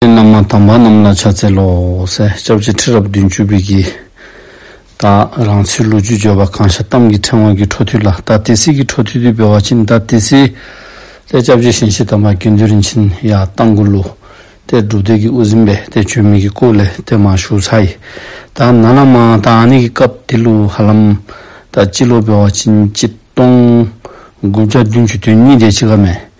ཁྱེད་རྣམས་མ་དམ་པ་རྣམས་ལ་ཕྱག་འཚལ་ལོ། སྐྱབས་རྗེ་ཁྲི་རབས་བདུན་བཅུ་པའི་གྱི། བདག་རང་ཚོའི་ལོ་རྒྱུས་བརྗོད་པ་གང་ཤར་གཏམ་གྱི་ཕྲེང་བ་གི་འཕྲོ་མཐུད་ལ་ད་ཏི་སི་གི་འཕྲོ་མཐུད་དུ་འབེལ་བ་ཕྱིན་ད་ཏི་སི། ལས་སྐྱབས་རྗེ་གཤེན་བཞི་དམ་པ་དགེ་འདུན་རིན་ཆེན་ཡ་ཏང་གུ་ལུ། དེར་སྒྲུབ་སྡེ་གི་དབུ་ཟིན་པས་དེ་བྱོན་མི་གི་སྐུ་ལས་དེ་མ་ཞུགས་ཚ་ཡི། ད་ན་ལ་མ་ད་ཨ་ནི་གི་སྐབས་དེ་ལུ་ཧ་ལམ། ད་སྤྱི་ལོ་འབེལ་བ་ཕྱིན་གཅིག་སྟོང། དགུ་བརྒྱ་བདུན་ཅུ་དོན་གཉིས་སྡེ་གཅིག་ག་མེད།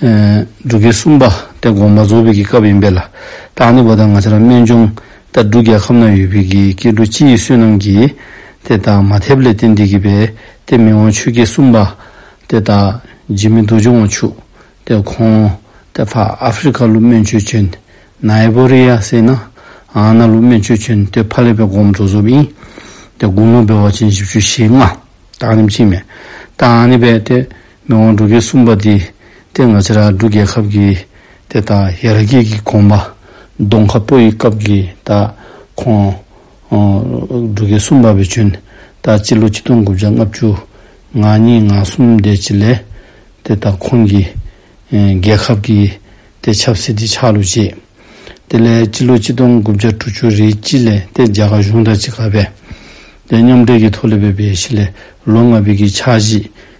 འབྲུག་གི་སུམ་པ་དེ་གོང་མ་རྫོགས་ཕུད་ཀྱི་སྐབས་ཡིན་པས་ལ་དྭགས་ནི་བོ་ད་ང་ཆ་ར་སྨད་འབྱུང་རྟ་འབྲུག་རྒྱལ་ཁབ་ན་ཡོད་ཕུད་ཀྱི་སྐྱེ་འགྲོ་སྤྱི་ཡི་བསོད་ནམས་ཀྱིས་དེ་དག་མ་ཐེབས་ལས་ཏེ་འདི་གི་བས་ཏེ་མི་དབང་ཆོས་ཀྱི་སུམ་པ་དེ་དག་འཇིགས་མེད་རྡོ་རྗེ་དབང་ཕྱུག་དེ་གོང་དེ་ཕ་ཨ་ཧྥི་རི་ཁ་ལུགས་སྨད་ཆོས་ཆོན་ནའི་བོ་རི་ཡ་སེ་ན་ཨ་ན་ལུགས་སྨད་ཆོས་ཆོན་དེ་ཕ་ལེ་པའི་དགོངས་རྫོགས་རྫོགས་ཕུད་ཡིན་དེ་དགུང་ལོ་བོད་བ་ཅན་བཞི་བཅུ་ཞེ་ལྔ་དག་རིམ་གྱིས་མེ་ཏཱ་ཨ་ནི་བས་ཏེ། མི་དབང་སྒྲུབ་རྒྱལ་གསུངས་པ་འདི་སྟེ་ང་ཕྱི་ར་སྒྲུབ་རྒྱལ་ཁབ་ཀྱི་དེ་དག་ཡ་ར་སྐྱིད་ཀྱི་གོང་པ་གདོང་ཁ་པོ་ཡི་སྐབས་ཀྱི་དག་ཁོང་སྒྲུབ་རྒྱལ་གསུམ་པ་བའི་བྱོན་དག་སྤྱི་ལོ་གཅིག་སྟོང་དགུ་བརྒྱ་ལྔ་བཅུ་ང་གཉིས་ང་གསུམ་འདས་བྱེད་ལས་དེ་དག་ཁོང་གི་རྒྱལ་ཁབ་ཀྱི་དེ་ཆབ་སྲིད་དེ་ཆགས་ལུགས་བྱེད་དེ་ལས་སྤྱི་ལོ་གཅིག་སྟོང་དགུ་བརྒྱ་དྲུག་ཅུ་རེའི་དཔྱིད་ལས་དེ་རྒྱ་གར་གཞུང་དག་ཅི་ག་བས་དེ་མཉམ་འབྲེལ་གྱི་ཐོག་ལས་བོད་པའི་གཞི་ལས་ལོ་ལྔ་བོད་ཀྱི་ཕྱག་བཞེས་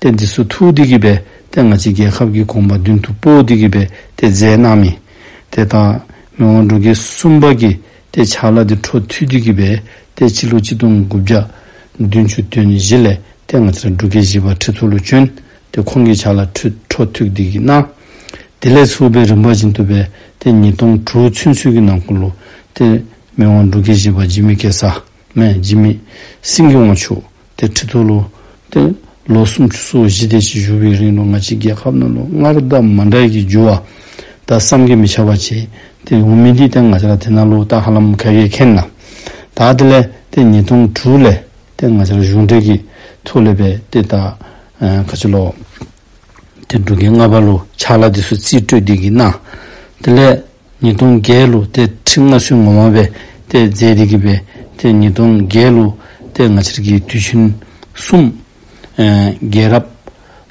ཏེ་འདི་སུ་ཐུགས་བདེ་གི་བས་ཏེ་ང་ཅི་རྒྱལ་ཁབ་ཀྱི་གོམ་པ་མདུན་དུ་སྤོ་བདེ་གི་བས་ཏེ་རྫས་རྣམས་ཡིན། དེ་དག་མི་དབང་འགྲོ་དགེ་གསུམ་པ་ཀྱི་ཏེ་ཆ་ལ་དེ་འཕྲོ་མཐུད་བདེ་གི་བས་ཏེ་སྤྱི་ལོ་གཅིག་སྟོང་དགུ་བརྒྱ། བདུན་ཅུ་དོན་བཞི་ལས་ཏེ་ང་ཅི་ལ་འགྲོ་དགེ་བཞི་པ་ཁྲི་ཚོ་ལུ་ཅོན་ཏེ་ཁོང་གི་ཆ་ལ་འཕྲོ་མཐུད་བདེ་གི་ན། དེ་ལས་ཚུགས་པའི་རིམ་པ་བཞིན་དུ་བས་ཏེ་ཉིས་སྟོང་དྲུག་ཚུན་ཚུད་ཀྱི་ནང་ཀུ་ལུ་ཏེ་མི་དབང་འགྲོ་དགེ་བཞི་པ་འཇིགས་མེད་སྐལ་བཟང། སྨད་འཇིགས་མེད་སེང་གེ་དབང་ཕྱུག་སྟེ་ཁྲི་ཐོ་ལོ། སྟེ། ལོ་སུམ་ཅུ་སོ་བཞི་སྟེ་ཕྱིས་བཞུགས་པའི་རིང་ལོ་ང་གཅིག་རྒྱལ་ཁབ་ནང་ལོ་ལྔར་བདག་མ་འབྲལ་གྱི་རྒྱུ་བ། ད་བསམ་གྱིས་མི་ཁྱབ་པ་བྱས། དེ་ཡོང་མི་འདི་སྟེ་ང་ཅག་དེ་ན་ལོ་ལྟ་ཧ་ལམ་ཁ་གས་ཁེན་ན། ད་དེ་ལས་སྟེ་ཉིས་སྟོང་དྲུག་ལས་སྟེ་ང་ཅག་གཞུང་འབྲེལ་གྱི་ཐོ་ལས་པའི་སྟེ་ད་ཁ་ཆེ་ལོ། དེ་འབྲུ་རྒན་ལྔ་པ་ལོ་ཆགས་ལ་དེ་སུ་རྩིས་སྤྲོད་འདི་གི་ན། དེ་ལས། ཉིས་སྟོང་བརྒྱད་ལོ་སྟེ་ཁྲི་ལྔ་བསུའི་ངོ་མ་བས་ཏེ་མཛད་དེ་གི་བས་ཏེ་ཉིས་སྟོང་བརྒྱད་ལོ་སྟེ་ང་ཕྱིར་གྱི་དུས་ཆེན་གསུམ། རྒྱལ་རབས།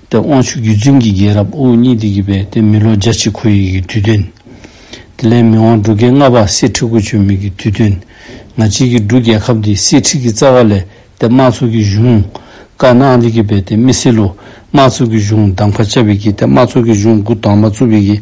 ཏེ་དབང་ཕྱུག་རྒྱུད་བཙུན་གྱི་རྒྱལ་རབས་དབུ་གཉིས་དེ་གི་བས་ཏེ་མི་ལོ་བརྒྱ་གཅིག་གོ་ཡི་གི་དུས་སྟོན། དེ་ལས་མི་དབང་འབྲུག་རྒྱལ་ལྔ་པ་སྲིད་ཁྲི་དགུ་ཆོད་མི་གི་དུས་སྟོན། ང་ཕྱིར་གྱི་འབྲུག་རྒྱལ་ཁབ་དེ་སྲིད་ཁྲི་གི་རྩ་བ་ལས་ཏེ་དམག་ཚོགས་ཀྱི་གཞུང། བཀའ་གནང་དེ་གི་བས་ཏེ་མི་སྲིད་ལོ། དམག་ཚོགས་ཀྱི་གཞུང་གདམ་ཁ་བཅའ་བི་གི་ཏེ་དམག་ཚོགས་ཀྱི་གཞུང་དགུ་གདམས་པ་བཙུ་བི་གི།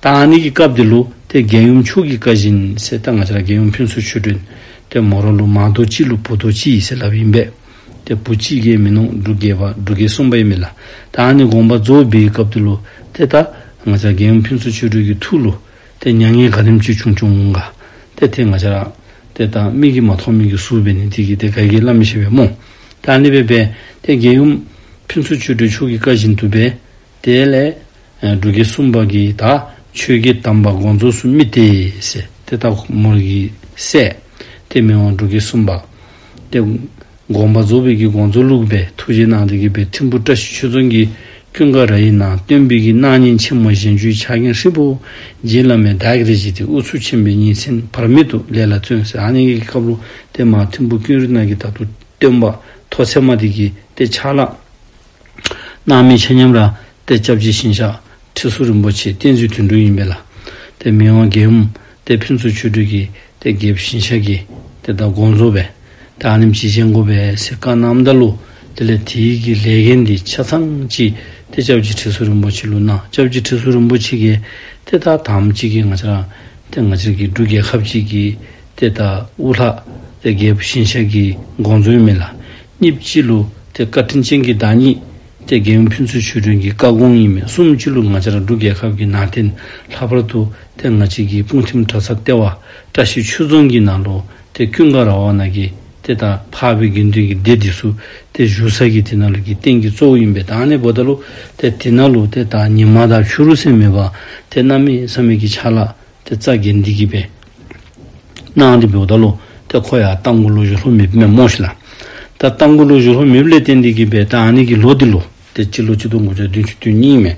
ཏཱ་ནི་ཀྱི་སྐབས་དེ་ལོ་དེ་རྒན་ཡུམ་ཆོས་ཀྱི་བཀའ་བཞིན་གསེར་རྟ་ལྔ་ཆར་རྒན་ཡུམ་ཕུན་ཚོགས་ཆོས་སྒྲོན། དེ་མོ་རོ་ལུགས་མང་རྡོ་རྗེའི་ལུགས་བུ་རྡོ་རྗེ་ཡི་སྲས་ལབ་ཡིན་པས། དེ་བུ་གཅིག་གིས་མི་ནོངས་འབྲུ་རྒྱལ་བ་འབྲུ་རྒྱལ་གསུམ་པ་ཡིན་པས་ལ་ཏཱ་ནི་དགོངས་པ་རྫོགས་སྦས་ཀྱི་སྐབས་དེ་ལོ་དེ་ཏཱ་ང་ཆར་རྒན་ཡུམ་ཕུན་ཚོགས་ཆོས་སྒྲོན་གྱི་ཐུགས་ལོ་དེ་མྱ་ངན་ག་རིམ་བཅུད་ཆུང་ཆུང་ངུ་འགའ་དེ་དེ་ང་ཆར་ཨང། དེ་ལྟར་མིག་གིས་མ་མཐོང་མིག་གིས་གཟུགས་བས་ནི་དེ་གྱིས་དེ་ག་གིས་བླ་མི་ཤེས་པས་རྨོངས། ཏཱ་ནི་པའི་བས་དེ་རྒན་ཡུམ་ཕུན་ཚོགས་ཆོས་སྒྲོན་ཆོས་ཀྱི་བཀའ་བཞིན་དུ་བས། དེ་ལས། འབྲུ་ཁལ་གསུམ་བག་གིས་དག། ཆོས་སྐྱེས་བསྡམས་པ་དགོངས་རྫོགས་སུ་རྨི། དེ་ལྟ་མོ་རིགས་ཀྱི་སྲས། དེ་མི་དབང་འབྲུ་ཁལ་གསུམ་བག། སྟེ། དགོངས་པ་རྫོགས་པའི་གྱི་དགོངས་རྫོགས་ལུགས་པའི་ཐུགས་རྗེ་གནང་སྟེ་དགྱེས་པའི་ཐིམ་ཕུར་བཀྲ་ཤིས་ཆོས་ཚོན་གྱི། ཀུན་དགའ་ར་ཡི་ནང་སྟོན་འབུལ་གྱི་གནང་ཉིན་ཆེན་མོ་གཞན་བཅུའི་ཕྱག་གིང་ཧྲིལ་པོ། རྗེ་བླ་མའི་བདག་གིར་བཞེས་ཏེ་དབུ་ཚུགས་ཆེན་པོའི་ཉིན་མཚན་བར་མེད་དུ་ལས་ལ་བརྩོན་ཟེར་ཨ་ནེ་ཀའི་བཀའ་ལུང་སྟེ་མར་ཐིམ་ཕུར་ཀུན་རིག་སྣང་གི་བརྡ་དུ་སྟོན་པ་ཐོ་ཚད་མ་དེ་གྱིས་ཏེ་ཆ་ལག། སྣང་མེད་ཆེ་མཉམ་རང་སྟེ་སྐྱབས་རྗེ་ཤིང་བཤགས་ཁྲི་ཟུར་རིན་པོ་ཆེའི་བསྟན་བཅོས་དུད་འགྲོ་ཡིན་པས་ལ། དེ་མི་དབང་དགེ་འམ་དེ་ཕུན་ཚོགས་ཆོས་སྤྲུལ་གྱིས་དེ་དགེ་བའི་ཤིང་བཤགས་ཀྱིས་དེ་ལྟར་དགོངས་རྫོགས་པས། དེ་ཨ་ནེམ་ཅིའི་ཆེན་དགོན་པའི་གསེར་ཁང་ནམ་ཟླ་ལུགས་དེ་ལས་དེའི་གི་ལས་མཁན་དེའི་ཆ་ཚང་གཅིག་དེ་སྐྱབས་རྗེ་ཁྲི་ཟུར་རིན་པོ་ཆེ་ལུགས་ན་སྐྱབས་རྗེ་ཁྲི་ཟུར་རིན་པོ་ཆེ་གིས་དེ་དག་དམ་གཅིག་གིས་ང་ཅག་རང་དེ་ང་ཅག་གི་འབྲུ་རྒྱལ་ཁབ་ཅིག་གིས་དེ་དག་དབུ་ལྷག་དེ་དགེ་བའི་ཤིང་བཤགས་ཀྱིས་དགོངས་རྫོགས་ཡོད་མེད་ལ་གཉིས་སྤྱི་ལུགས་དེ་བཀའ་དྲིན་ཅན་གྱི་བདག་ཉིད། དེ་རྒན་ཡོལ་ཕུན་ཚོགས་ཆོས་སྒྲོན་གྱི་བཀའ་དགོངས་ཡིན་མིན་གསུམ་སྤྱི་ལུགས་ང་ཅར་འབྲུག་རྒྱལ་ཁབ་ཀྱི་ནང་བསྟན་ལྷག་པར་དུ་དེ་སྔ་ཕྱི་གྱི་དཔུང་ཁྲིམས་དྲ་ཚ་ལྟེ་བ་བཀྲ་ཤིས་ཆོས་རྫོང་གི་ནང་ལོ་དེ་ཀུན་དགའ་ར་བ་ན་གི་དེ་དང་འཕགས་པའི་དགེ་འདུན་གྱི་སྡེ་འདི་སུ་དེ་བཞུགས་ས་ཀྱི་དེ་ན་ལུགས་ཀྱི་རྟེན་གྱི་གཙོ་བོ་ཡིན་པས་དང་ནི་བོ་ད་ལུགས་དེ་དེ་ན་ལུགས་དེ་དང་ཉི་མ་དང་བྱུ་རུ་སེམས་མེད་པ་དེ་རྣམ་མེད་བསམ་མེད་ཀྱི་ཆ་ལག་དེ་རྩ་དགེ་འདི་གི་པའི། སྣང་འདི་བོ་ད་ལོ་ཏེ་ཁོ་ཡང་རྟ་མགོ་ལོ་ཡུ་ལྷོ་མི་བི་མས་མོ་ཤི་ལ། ད་རྟ་མགོ་ལོ་ཡུ་ལྷོ་མི་བི་ལས་ཏེ་འདི་གི་པའི་ད་ཨ་ནི་གི་ལོ་འདི་ལོ་ཏེ་སྤྱི་ལོ་སྤྱི་སྟོང་དགུ་བརྒྱ་བདུན་ཅུ་དོན་གཉིས་མེ།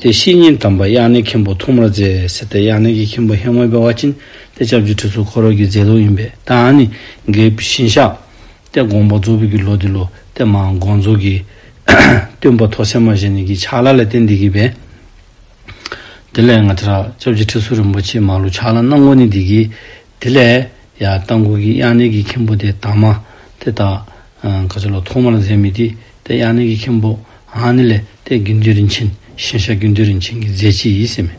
དེ་བཤེས་གཉེན་དམ་པ་དབྱང་ནེ་མཁན་པོ་ཐུགས་མར་མཛད་ཟེར་ཏེ་དབྱང་ནེ་གི་མཁན་པོ་ཧེ་ངོས་པའི་བ་ཅིན་ཏེ་ལྕགས་ཀྱུ་ཁྲི་ཚོ་འཁོར་རོལ་གྱི་མཛད་ལུགས་ཡིན་པས་ད་ཨ་ནི་གི་བཞིན་ཤག། ཏེ་དགོངས་པ་རྫོགས་བི་གི་ལོ་འདི་ལོ་ཏེ་མ་དགོངས་རྫོགས་གི། སྟོན་པ་ཐོག་སེར་མ་བཞེས་ནི་གི་ཕྱག་ལ་ལས་ཏེ་འདི་གི་པའི། དེ་ལས་ང་ཚེ་རབས་བཅོ་བརྒྱད་ཁྲི་ཟུར་རིན་པོ་ཆེའི་མ་ལུག་ཕྱག་ལ་སྣང་ངོ་ནི་འདི་གི། དེ་ལས། ཡང་རྟ་མགུར་གྱི་དབྱངས་ནས་ཀྱི་མཁན་པོ་དེ་དག་མ། དེ་དག། ག་ཚོད་ལ་ཐོག་མར་མཛད་མི་དེ། དེ་དབྱངས་ནས་ཀྱི་མཁན་པོ། ཧང་ནི་ལས། དེ་དགེ་འདུན་རིན་ཆེན། ཤིང་ཤ་དགེ་འདུན་རིན་ཆེན་གྱི་མཛད་ཕྱི་ཡིས་སེམས།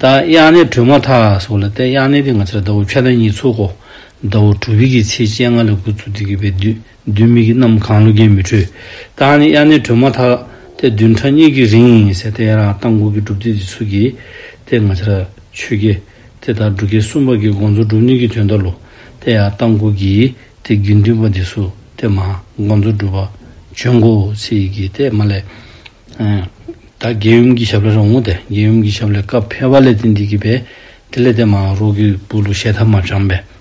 ད་དབྱངས་ནས་གྲོལ་མ་ཐག་སོགས་ལ་དེ་དབྱངས་ནས་དེ་ང་ཚེ་རབས་ཟླ་བོ་ཁྱོ་ད་ཉིས་ཚོགས་གོ། ཟླ་བོ་དྲུག་བྷི་གི་ཚེས་བཅད་ལྔ་ལ་དགུ་ཚུགས་དེ་གི་བའི་དུས། བདུད་མིག་གི་གནམ་གང་ལོ་བརྒྱའི་མི་འཕྲོད། བདག་ནི་དབྱར་གནས་བྲོས་མ་ཐག། དེ་བདུན་ཕྲག་གཉིས་ཀྱི་རིང། ཟེར་ཏེ་ཡང་རང་གཏམ་གུར་གྱི་སྒྲུབ་ཐིག་འདི་ཚུགས་ཀྱིས། དེ་ང་ཕྱིར་ཆོས་དགེ། དེ་ལྟར་འབྲུ་ཁལ་གསུམ་བར་གྱི་དགོངས་རྫོགས་སྒྲུབ་ནུས་ཀྱི་དོན་ལྟར་ལོ། དེ་ཡང་གཏམ་གུར་གྱིས། དེ་དགེ་འདུན་པ་འདི་སུ་དེ་མ། དགོངས་རྫོགས་སྒྲུབ་པ་བྱོན་གོ། ཚིག་གིས་དེ་མ་ལས། ད་རྒྱལ་ཡུམ་གྱི་ཞབས་ལ་རོང་ངོ། དེ་རྒྱལ་ཡུམ་གྱི་ཞབས་ལས་སྐབས་འཕེལ་བ་ལས་དེ་འདི་གི་བས། དེ་ལས་དེ་མ་རོག་གི་བུ་ལུ་ཞེ་ཐབས་མ་བྱམས་པས།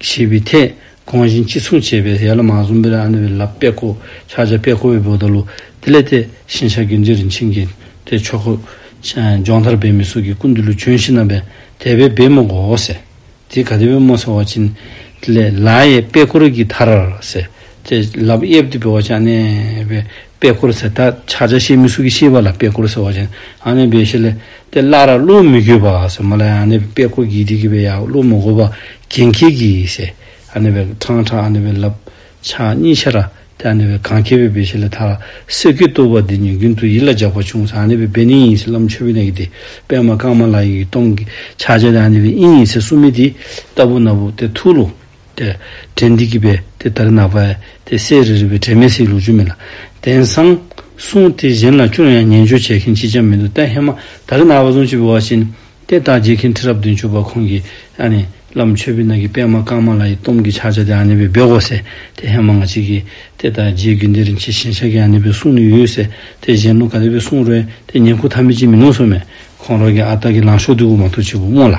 ཞེས་པའི་ཐད་གོང་བཞིན་གཅིག་མཚུངས་བྱས་པས་ཡར་ལ་མ་གསུམ་པའི་ཨ་ནེ་བའི་ལབ་པད་ཀོ་ཕྱག་རྒྱ་པད་ཀོ་བའི་བུ་བདག་ལུ་དེ་ལས་དེ་བཞིན་ཤར་གྱི་འཇིགས་རིན་ཆེན་གྱི་དེ་མཆོག་གོ། ལྗོངས་ཐར་པའི་མི་གསུང་གི་ཀུན་ཏུ་ལུས་བྱོན་བཞི་རྣམ་པའི་དད་པའི་སྦས་མོ་གོ་ཟེར། དེའི་ག་དེ་བས་མོ་ཟེར་བ་བྱིན། ལས་ལ་ཡའི་པད་ཀོ་རིགས་ཀྱི་ཐར་ཟེར། དེ་ལབ་གཡས་བདུད་པའི་བ་ཅག་གནས་པའི་པད་ཁོར་ཟེར། ད་ཆ་ཆ་ཤེས་མི་སུ་གི་ཤེས་པ་ལ་པད་ཁོར་ཟེར་བ་ཅན་ཨ་ནེ་བེ་ཤེ་ལེ་དེ་བླ་ར་བློ་མི་འགྱོད་པ་ཟེར་མ་ལ་ཨ་ནེ་བེ་པད་ཁོ་གིས་འདི་གི་བེ་ཡ་བློ་མི་འགོ་བ་གན་ཁེ་གི་ཟེར་ཨ་ནེ་བེ་ཁྲང་ཁྲང་ཨ་ནེ་བེ་ལབ་ཆ་གཉིས་ཆ་ར་དེ་ཨ་ནེ་བེ་གང་ཁེ་བེ་བེ་ཤེ་ལེ་ད་ལ་སེར་གི་ལྟོ་བ་འདི་ཉོན་རྒྱུན་དུ་ཡིད་ལ་འཇགས་པ་བྱུང་ཟེར་ཨ་ནེ་བེ་བེ་ནི་ཡིན་ཟེར་ལམ་ཆོས་བེ་ནེ་གི་དེ་པད་མ་ཀརྨ་ལ་ཡིན་གི་སྟོང་གི་ཆ་ཆ་དེ་ཨ་ནེ་བེ་ཨིན་ཡིན་ཟེར་སུ་མི་དེ་ལྟ་བུ་ན་བུ་དེ་ཐུགས་ལུགས། ཏེ། དྲན་འདི་སྐྱིད་པས་དེ་ལྟར་གནག། བས་ཏེ་བསེ་རི་རི་བའི་དྲན་མེད་སྲིད་ལུགས་ཅུང་མིན་ལ། དེང་སང། གསུང་དེ་གཞན་ལ་ཅུང་ཡང་ཉན་འཇོན་བྱེད་མཁན་ཅིས་ཀྱང་མི་འདུག་བསྟན་ཧེ་མ་དར་གནག་བ་ཟུང་ཆུ་བོ་བ་བཞིན། དེ་དག་བརྗེད་མཁན་ཁྲི་རབས་བདུན་ཅུ་པ་ཁོང་གིས། ཨ་ནི། བླ་མ་ཆོས་འཕེལ་ནགས་ཀྱི་པད་མ་རྐང་མ་ལ་ཡི་དོམ་གྱི་ཕྱག་བྱ་དེ་ཨ་ནི་པའི་འབེལ་གོ་ཟེར། དེ་ཧེ་མ་ང་གཅིག་གིས། དེ་དག་རྗེའི་རྒྱུད་འདི་རིན་ཆེན་ཞིང་ཤར་གྱི་ཨ་ནི་པའི་གསུང་ནི་ཡོད་ཟེར། དེ་གཞན་ཀླུ་ག་ལེ་བའི་གསུང་རོལ། དེ་ཉན་ཁུག་ཐ་མི་ཅིས་མི་ནོར་སོ་མེད། ཁོང་རོག་གི་ཨ་སྟག་གི་ལངས་ཤོག་འདི་འུར་མ་ཐུག་ཆེ་བུ་རྨོངས་ལ།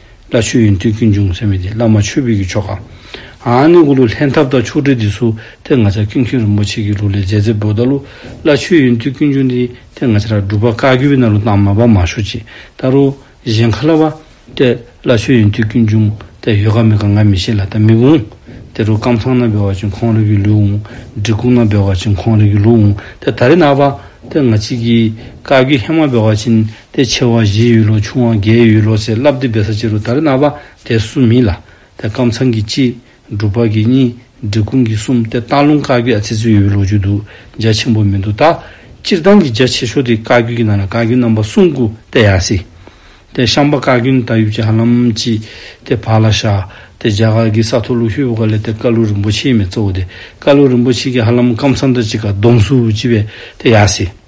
བླ་ཆོས་ཡིན་དུས་ཀུན་འབྱུང་ཟེར་མི་དེ་བླ་མ་ཆོས་འཕེལ་གྱི་ཆོ་ག། ཨཱ་ནི་གུ་ལུ་ལྷན་ཐབས་དང་ཆོག་སྦྲེལ་འདི་ཚུ་དེ་ང་ཚ་ཀུན་མཁྱེན་རིན་པོ་ཆེ་གི་ལུགས་ལས་མཛད་ཚེ་བོ་ད་ལུ་བླ་ཆོས་ཡིན་དུས་ཀུན་འབྱུང་འདི་དེ་ང་ཚ་ར་སྒྲུབ་པ་ཀ་གི་བི་ན་རུ་དང་མ་པ་མ་ཤོ་ཅི་ད་རུ་གཞན་ཁ་ལ་བ་དེ་བླ་ཆོས་ཡིན་དུས་ཀུན་འབྱུང་དེ་ཡོད་ག་མེད་ག་ང་མི་ཤེས་ལ་ད་མི་འུང་དེ་རུ་ཀམ་ཚང་ན་སྦེ་བ་ཅིང་ཁོང་རི་གི་ལུས་འུང་འབྲི་ཀུག་ན་སྦེ་བ་ཅིང་ཁོང་རི་གི་ལུས་འུང་དེ་ད་རི་ན་བ་དེ་ང་ཅི་གི་ཀ་གི་ཧེ་མ་སྦེ་བ་ཅིན། ཏེ་ཆེ་བ་བཞིའི་ཡུལ་ལོ་ཆུང་བ་བརྒྱའི་ཡུལ་ལོ་ཞེས་བསླབ་སྟེ་འབད་ས་བཅད་རུ་དར་གནག་པ་དེ་གསུམ་ཡིན་ལ། དེ་སྐམ་ཚང་གི་གཅིག། སྒྲུབ་པ་གི་གཉིས། འབྲི་གུང་གི་གསུམ་སྟེ་སྟག་ལུང་བཀའ་བརྒྱད་ཚེ་བཙོན་ཡུལ་ལོ་བཅུ་དུ་རྒྱ་ཆེན་པོ་མི་འདུག་ད། སྤྱིར་བཏང་གི་རྒྱ་ཆེ་ཤོས་དེ་བཀའ་བརྒྱུད་ཀྱི་ནང་ལ་བཀའ་བརྒྱུད་རྣམ་པ་གསུམ་དགུ་སྟེ་ཡང་སྲིད། དེ་ཤངས་པ་བཀའ་བརྒྱུད་ནི་ད་ཡུལ་གྱི་ཧ་ལམ་སྤྱི། དེ་བར་ལ་ཤ། དེ་རྒྱ་གར་གྱི་ས་ཐོ་ལུགས་ཧེ་བོ་ཀ་ལེ་སྟེ་ཀ་ལུ་རིན་པོ་ཆེའི་མི་གཙོ་བོ་དེ་ཀ་ལུ་རིན་པོ་ཆེ་གྱི་ཧ་ལམ་སྐམ་ཚང་དང་གཅིག་ག་གདོང་སུ་སྤྱི་བས་དེ་ཡང་སྲིད།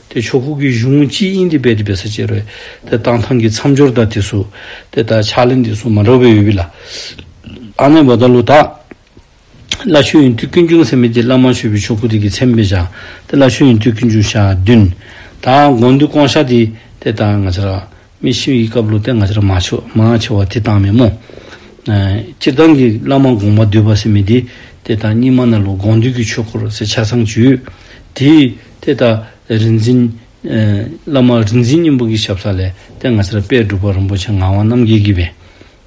དེ་ཕྱོགས་ཁུག་གི་གཞུང་སྤྱིའི་དབྱིན་དི་བེད་བེད་ས་བྱེད་རོལ་དེ་བཏང་ཐང་གི་མཚམས་སྦྱོར་དང་དེ་སུ་དེ་དང་ཕྱག་ལེན་དེ་སུ་མ་འདྲ་བའི་ཡོད་བི་ལ། ཨ་ནེ་བ་ད་ལུ་དག། བླ་ཆོས་ཡིན་དུས་ཀུན་འབྱུང་སེམས་མེད་དེ་བླ་མ་ཆོས་བི་ཕྱོགས་ཁུག་དེ་གི་མཚན་བེད་བྱང་དེ་བླ་ཆོས་ཡིན་དུས་ཀུན་འབྱུང་ཞག་བདུན། དང་དགོངས་འདུས་སྐོང་བཤགས་དེ་དེ་དང་ང་ཆ་རག་མི་ཤི་བའི་སྐབས་ལུས་རྟེན་ང་ཅར་མ་ཆོད་མང་ཆེ་བ་དེ་དང་མེད་མོད། སྤྱིར་བཏང་གི་བླ་མ་དགོངས་པ་འདུས་པ་སེམས་མི་བདེ། དེ་དང་གཉིས་མ་ན་ལོ་དགོངས་འདུས་ཀྱི་ཆོས་འཁོར་ཟེར་ཆ་ཚང་བརྒྱུད། དེས་དེ་ལྟ། རིག་འཛིན། བླ་མ་རིག་འཛིན་སྙིང་པོ་གི་ཞབས་ས་ལས་རྟེན་ང་ཅར་དཔལ་སྒྲུབ་པ་རིན་པོ་ཆེ་ངག་དབང་རྣམ་རྒྱལ་གྱིས་བས།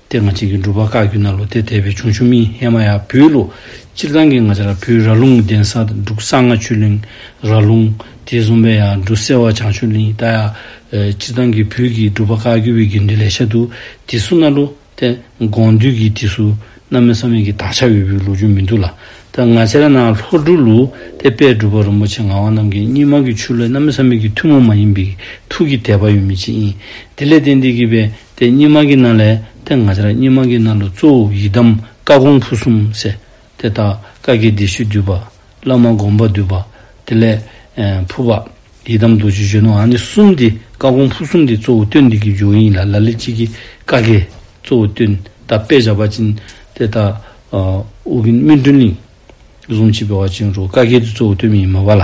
ཏེ་ང་གཅིག་གིས་སྒྲུབ་པ་བཀའ་བརྒྱུད་ན་ལོ་སྟེ་དད་པའི་འབྱུང་ཆུ་མིག་སྔས་མ་ཡ་བུའི་ལོ། སྤྱིར་བཏང་གི་ང་ཆ་ལ་བུའི་རྭ་ལུང་གདན་ས་འབྲུག་ས་ལྔ་ཆུ་གླིང་རྭ་ལུང། དེ་གསུམ་པའི་ཡང་འབྲུག་སེ་བ་བྱང་ཆུ་གླིང་རྟ་ཡ། སྤྱིར་བཏང་གི་བུ་གིས་སྒྲུབ་པ་བཀའ་བརྒྱུད་པའི་དགེ་འདུན་ལས་ཤ་དུག་དེ་སུ་ན་ལོ། ཏེ་དགོངས་འདུས་ཀྱི་དེ་སུ་ན་མི་ས་མེད་ཀྱི་དག་ཆ་བའི་བུའི་ལོ་རྒྱུན་མི་འདུག་ལ། ཏེ་ང་ཆ་ལ་ན་ལྷོ་འབྲུག་ལུགས་ཏེ་དཔལ་སྒྲུབ་པ་རིན་པོ་ཆེ་ངག་དབང་རྣམས་ཀྱིས་སྙིགས་མ་གི་ཆུ་ལོའི་ན་མི་ས་མེད་ཀྱི་ཐུན་མོང་མ་ཡིན་པའི་ཐུགས་ཀྱི་དད་པ་ཡོད་མེད་ཅི་ཡིན། དེ་ལས་ཏེ་འདི་གི་བའི་དེ་སྙེ་མ་གི་ན་ལས་ཏེ་ང་ཅར་སྙེ་མ་གི་ན་ལོ་གཙོ་བོ་ཡི་དམ་བཀའ་གོང་བུ་གསུམ་བསྲེ། དེ་དག་བཀའ་གྱི་སྡེ་ཤུལ་འདུས་པ། བླ་མ་དགོངས་པ་འདུས་པ། དེ་ལས། ཕུར་པ། ཡི་དམ་རྡོ་རྗེ་གཞོན་ནུ་ཨ་ནི་གསུམ་འདི་བཀའ་གོང་བུ་གསུམ་འདི་གཙོ་བོ་སྟོན་འདི་གི་འཇུག་ཡིན་ལ་ལ་ལི་གཅིག་གི་བཀའ་གི་གཙོ་བོ་སྟོན་ད་པེ་བྱ་བ་ཅིན། དེ་དག། ཨོ་གིན་སྨིན་དྲུང་གླིང། གཟུངས་ཆེན་པེ་བ་ཅིན་རུ་བཀའ་གྱི་གཙོ་བོ་སྟོན་མི་ཡིན་མོད་པ་ལ།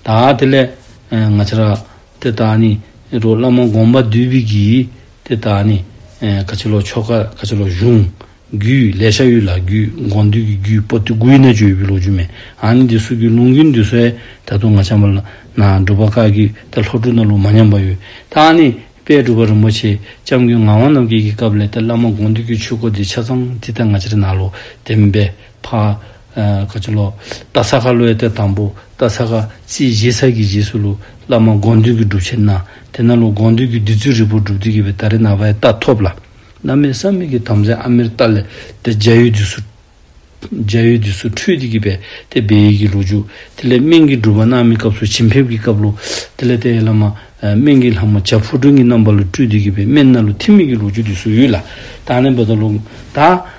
ད་དེ་ལས། ང་ཅར། དེ་དག་ནི་རོ་བླ་མ་དགོངས་པ་འདུས་པའི་གིས། དེ་དག་ནི། ཁ་ཆེ་ལོ་ཆོ་ག་ཁ་ཆེ་ལོ་གཞུང། རྒྱུད་ལས་ཤ་ཡུལ་ལ་རྒྱུད་དགོངས་འདུས་ཀྱི་རྒྱུད་པོ་ཏི་དགུའི་རྣལ་འབྱོར་ཡོད་པའི་ལོ་རྒྱུས་མེད་ཨང་ནི་འདི་སུ་རྒྱུད་ལུང་གི་འདུས་སྲོལ་ད་དུང་ང་བྱམས་པ་ལ་ན་སྒྲུབ་པ་བཀའ་རྒྱུད་དང་ལྷོ་སྤྲུག་ན་ལུགས་མ་ཉམས་པ་ཡོད་ད་ཨང་ནི་དཔལ་སྒྲུབ་པ་རིན་པོ་ཆེ་ལྕམ་སྐུའི་ངག་དབང་རྣམ་རྒྱལ་གྱི་སྐབས་ལས་ཏེ་བླ་མ་དགོངས་འདུས་ཀྱི་ཆོས་སྐོར་འདི་ཆ་ཚང་ཙི་ཏཱ་ང་ཅི་ར་ནཱ་ལོ་བདེན་པའི་ཕ། ཁ་ཆེ་ལོ། རྟ་ས་ག་བློའི་གཏེར་དང་པོ། རྟ་ས་ག། རྩིས་བཞི་ས་གི་རྗེས་སུ་ལུས། བླ་མ་དགོངས་འདུས་ཀྱི་སྒྲུབ་བྱེད་སྣང། དེ་རྣམས་ལ་དགོངས་འདུས་ཀྱི་བདུད་རྩི་རིལ་པོར་བསྒྲུབས་དུས་དགེ་བའི་ད་རི་ན་བའི་རྟགས་ཐོབ་ལ། བླ་མའི་བསམ་ཡས་ཀྱི་དམ་རྫས་ཨ་མེར་ཏཱ་ལས། དེ་རྒྱ་ཡུལ་དུས་སུ། རྒྱ་ཡུལ་དུས་སུ་ཁྲུས་ཏི་གི་བས་དེ་སྦས་ཡིག་གི་ལུགས་འཇུག། དེ་ལས་སྨན་གྱི་སྒྲུབ་པ་གནང་མི་སྐབས་སུ་བྱིན་ཕེབས་ཀྱི་སྐབས་ལུགས། དེ་ལས་ཏའི་བླ་མ། སྨན་གྱི་ལྷ་མོ་བྱ་ཕུར་སྒྲོན་གྱི་རྣམ་པ་ལ་ཁྲུས་ཏི་གི་བས་སྨན་སྣ་ལུ་ཐིམ་མེད་ཀྱི་ལུགས་འཇུག་དུས་སུ་ཡུལ། ལ་དྭགས་ནས་འབོད་དོ་ལུགས། ད།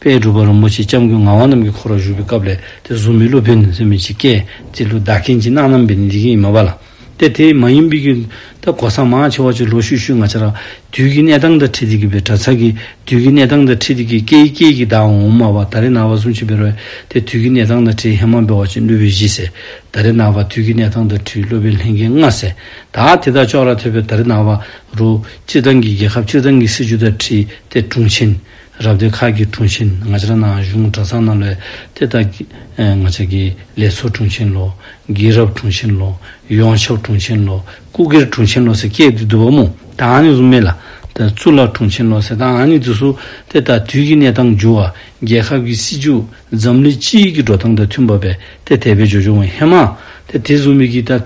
དཔལ་སྒྲུབ་པ་རིན་པོ་ཆེ་སྐྱབས་མགོན་ངག་དབང་རྣམས་ཀྱི་འཁོར་བར་བཞུགས་པའི་སྐབས་ལས་དེར་གཟུགས་མེད་ཀླུ་བེར་ནི་སེམས་མི་ཕྱེད་སྐད་ཅིག་ཀླུ་བདག་མཁན་གྱིས་གནང་རྣམ་པས་ནི་འདི་མཁན་ཡིན་མོད་པ་ལ། དེ་དེ་མ་ཡིན་པའི་གིན་ད་གོ་ས་མང་ཆེ་བ་ཆུ་ལོག་ཤུད་ཤུད་ང་ཆ་རག་དུས་ཀྱི་གནས་སྟངས་དང་ཁྲིད་དེ་གི་བེར་དྲ་ཚ་གི་དུས་ཀྱི་གནས་སྟངས་དང་ཁྲིད་དེ་གི་སྐད་ཡིག་སྐད་ཀྱི་བརྡ་འོང་འོང་མ་བ་ད་རེ་ན་བ་གསུམ་ཆུ་བེར་བས་དེ་དུས་ཀྱི་གནས་སྟངས་དང་ཁྲིད་ཧེ་མ་བེར་བ་ཆེན་ཀླུ་བེར་བཞི་ཟེར་ད་རེ་ན་བ་དུས་ཀྱི་གནས་སྟངས་དང་ཁྲིད་ཀླུ་བེར་ལྷན་རྒྱས་ལྔ་ཟེར་ད་དེ་དག་ཅོག་ར་ཐོད་བེར་ད་རེ་ན་བ་རུ་སྤྱིར་བཏང་གི་རྒྱལ་ཁབ་སྤྱིར་བཏང་གི་སྲིད་ཇུས་དང་ཁྲིད་དེ་དྲུང་ཆེན། རབ་སྡེ་ཁག་གི་དྲུང་ཆེ་ང་ཅག་ནང་གཞུང་གྲྭ་ཚང་རྣམས་ལས་དེ་ལྟ། ང་ཅག་གི་ལས་ཚོགས་དྲུང་ཆེན་ལོ། རྒན་རབས་དྲུང་ཆེན་ལོ། ཡོངས་ཁྱབ་དྲུང་ཆེན་ལོ། སྐུ་སྒེར་དྲུང་ཆེན་ལོ་ཟེར་སྐད་དེ་དུ་བ་མོ་དང་ནི་གཟུགས་མེད་ལ། གཙུག་ལག་དྲུང་ཆེན་ལོ་ཟེར་དང་ནི་དུ་སུ། དེ་ལྟར་དུས་ཀྱི་གནས་སྟངས་འགྱུར་བ། རྒྱལ་ཁབ་ཀྱི་སྲིད་བྱུས་འཛམ་གླིང་སྤྱི་ཡི་གི་འགྲོ་སྟངས་དང་མཐུན་པ་བས་དེ་དལ་བའི་ཇོ་ཇོ་བའི་ཧེ་མ། དེ་དེ་གཟུགས་མེད་ཀྱི་ད།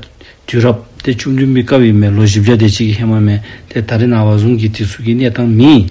དུས་རབ། དེ་བཅུ་བདུན་པའི་སྐབས་ཡིན་པས་ལོ་བཞི་བརྒྱ་དེ་གཅིག་གི་ཧེ་མ་མེད་དེ་ད་རི་ན་བ་གཟུང་གི་དེ་སུ་ཀྱི་གནས་སྟངས་མིན།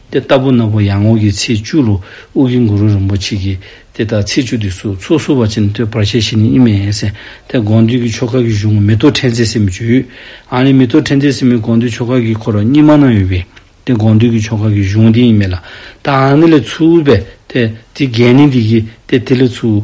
དེ་ལྟ་བུ་ནོར་བུ་ཡར་ངོ་གྱི་ཚེས་བཅུ་རུ་དབུ་གི་གུ་རུ་རིན་པོ་ཆེ་གིས་དེ་ལྟར་ཚེས་བཅུ་དུས་སུ་ཚོགས་བསུ་བ་ཅན་བསྟོད་པར་བྱས་ཤིང་ནི་ཨིན་མན་སན་ཐའི་དགོངས་འདུས་ཀྱི་ཆོ་ག་གི་གཞུང་མེ་ཏོག་ཕྲེང་མཛེས་སེ་མི་བཅུ་ཨང་ལས་མེ་ཏོག་ཕྲེང་མཛེས་སེ་མི་དགོངས་འདུས་ཆོ་ག་གི་འཁོར་གཉིས་མ་གནང་ཡོད་པས་དེ་དགོངས་འདུས་ཀྱི་ཆོ་ག་གི་གཞུང་དེ་ཡིན་མེད་ལ་ད་ཨང་ནི་ལས་ཚུལ་བས་དེ་དེ་རྒྱན་ནི་འདི་ཡིས་དེ་དེ་ལས་ཚུལ་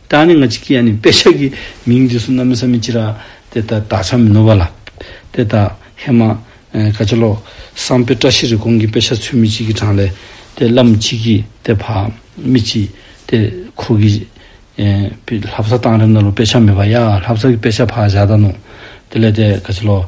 ད་ནི་ང་ཅིག་གིས་ཡང་ནི་དཔེ་ཆ་གི་མིང་འདི་སུ་ན་མི་ས་མི་ཅི་ར། དེ་ད་ད་ཆ་མི་ནོར་བ་ལ། དེ་ད་ཧེ་མ། ཀ་ཅི་ལོ། སང་དཔེ་བཀྲ་ཤིས་རི་གོང་གི་དཔེ་ཆ་ཚུལ་མི་ཅིག་གིས་དྲངས་ལས། དེ་བླ་མ་ཅིག་གིས་དེ་ཕ། མི་ཅིག། དེ་ཁོ་གིས། ལྷ་བཟའ་བཏང་རེམ་ན་ལོ་དཔེ་ཆ་མེད་པ་ཡ་ལྷ་བཟའ་གི་དཔེ་ཆ་ཕ་བཞག་ད་ནོ། དེ་ལས་དེ་ཀ་ཅི་ལོ།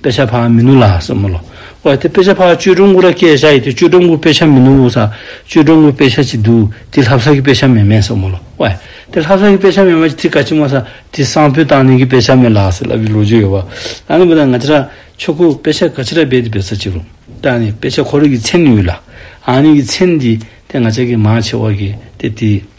དཔེ་ཆ་ཕག་མི་ནུ་ལ་སོགས་མི་ལོ། ཨོ་དེ་དཔེ་ཆ་ཕག་ཅོལ་ཀྲོང་ཀུ་ར་སྐད་བྱ་ཡི་དེ་ཅོལ་ཀྲོང་ཀུ་དཔེ་ཆ་མི་ནུ་འུ་ས་ཅོལ་ཀྲོང་ཀུ་དཔེ་ཆ་ཅིག་འདུག་དེ་ལྷབ་ས་གི་དཔེ་ཆ་མེད་མེད་སོགས་མི་ལོ། ཨོ་དེ་ལྷབ་ས་གི་དཔེ་ཆ་མེད་མ་ཅིག་དེ་ག་ཅིག་མ་ས་དེ་སང་ཕོད་བཏང་ནས་གི་དཔེ་ཆ་མེད་ལ་སོགས་ལབ་པའི་ལོ་རྒྱུས་ཡོད་བ། ད་ནི་བུ་ད་ང་ཅི་ར་ཆོ་ཁུ་དཔེ་ཆ་ག་ཅི་ར་བེད་དེ་བེད་ས་ཅིག་རུང་ད་ནི་དཔེ་ཆ་ཁོ་ར་གི་མཚན་ནི་ཡོད་ལ། ཨ་ནི་གི་མཚན་དེ་དེ་ང་ཅག་གི་མང་ཆེ་བ་གི་དེ་དེ།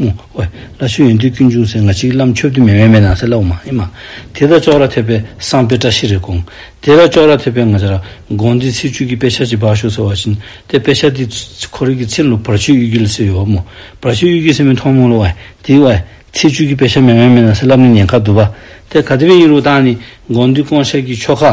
ཨོའེ། ལ་ཆོས་ཡོན་ཏུ་ཀུན་འབྱུང་སེང་ང་གཅིག་བླ་མཆོད་བདུད་མེ་མེ་མེ་ནང་སེ་བླ་འོ་མ་ཨེ་མ། དེ་དག་ཅོག་ར་ཐེབས་པས་སངས་པས་བཀྲ་ཤིས་རེ་སྐོང། དེ་དག་ཅོག་ར་ཐེབས་པས་ང་ཅག་ར་དགོང་འདི་ཚེས་བཅུ་གྱི་དཔེ་ཆ་གཅིག་བག་ཤོས་ཟེར་བ་བཞིན་ཏེ་དཔེ་ཆ་འདི་ཁོ་རེ་གི་ཚེ་ལོ་བར་ཆོས་གཡུལ་གྱི་ལ་སེ་ཡོའོ་མོ། བར་ཆོས་གཡུལ་གྱི་སེ་མི་མཐོང་མོ་ལོ་ཨོའེ། དེ་ཨོའེ། ཚེས་བཅུ་གྱི་དཔེ་ཆ་མེ་མེ་མེ་ནང་སེ་བླ་མ་ནི་ཉེན་ཁ་བསྡུ་བ། དེ་ག་དེ་བས་ཡིན་རུང་བདག་ནི་དགོང་འདི་སྐོང་ཆ་གྱི་ཆོ་ག།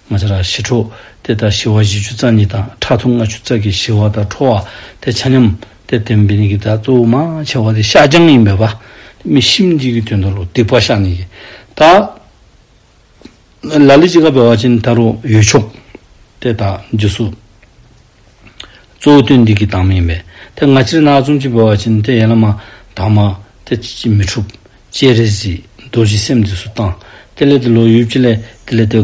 ང་ཆ་རག་ཞི་ཁྲོ། དེ་ལྟར་ཞི་བ་བཞི་ཆུ་རྩ་གཉིས་དང་ཁྲག་འཐུང་ལྔ་ཆུ་རྩ་གིས་ཞི་བ་དང་ཁྲོ་བ་སྟེ་ཆ་མཉམ། དེར་བརྟེན་འབིས་ནི་གི་བརྡ་གཙོ་བོ་མང་ཆེ་བ་དེ་བཤགས་སྦྱང་ཡིན་པས་པདྨས་ཤིང་གཅིག་གི་དོན་དུ་ལུགས་སྡིག་པ་བཤགས་ནི་གི་བརྡ། ལ་ལས་ཅི་དགའ་བའི་བ་ཅན་ནི་ད་རུང་ཡོད་ཆོག། དེ་དང་རྗེས་སུ། གཙོ་བོ་དོན་འདི་གི་དྭངས་མ་ཡིན་པས། དེ་ང་ཕྱིར་ན་ཙུམ་གཅིག་པོ་བ་ཅན་དེ་ཡན་ལག་མ། དྭངས་མ། དེ་ཅི་ཅིས་མི་འཁྲུག། ཅེས་རེ་ཞིག་རྡོ་རྗེ་སེམས་འདི་སུ་བཏང། དེ་ལས་དེ་ལོ་ཡུལ་ཅི་ལས་དེ་ལས་དེ།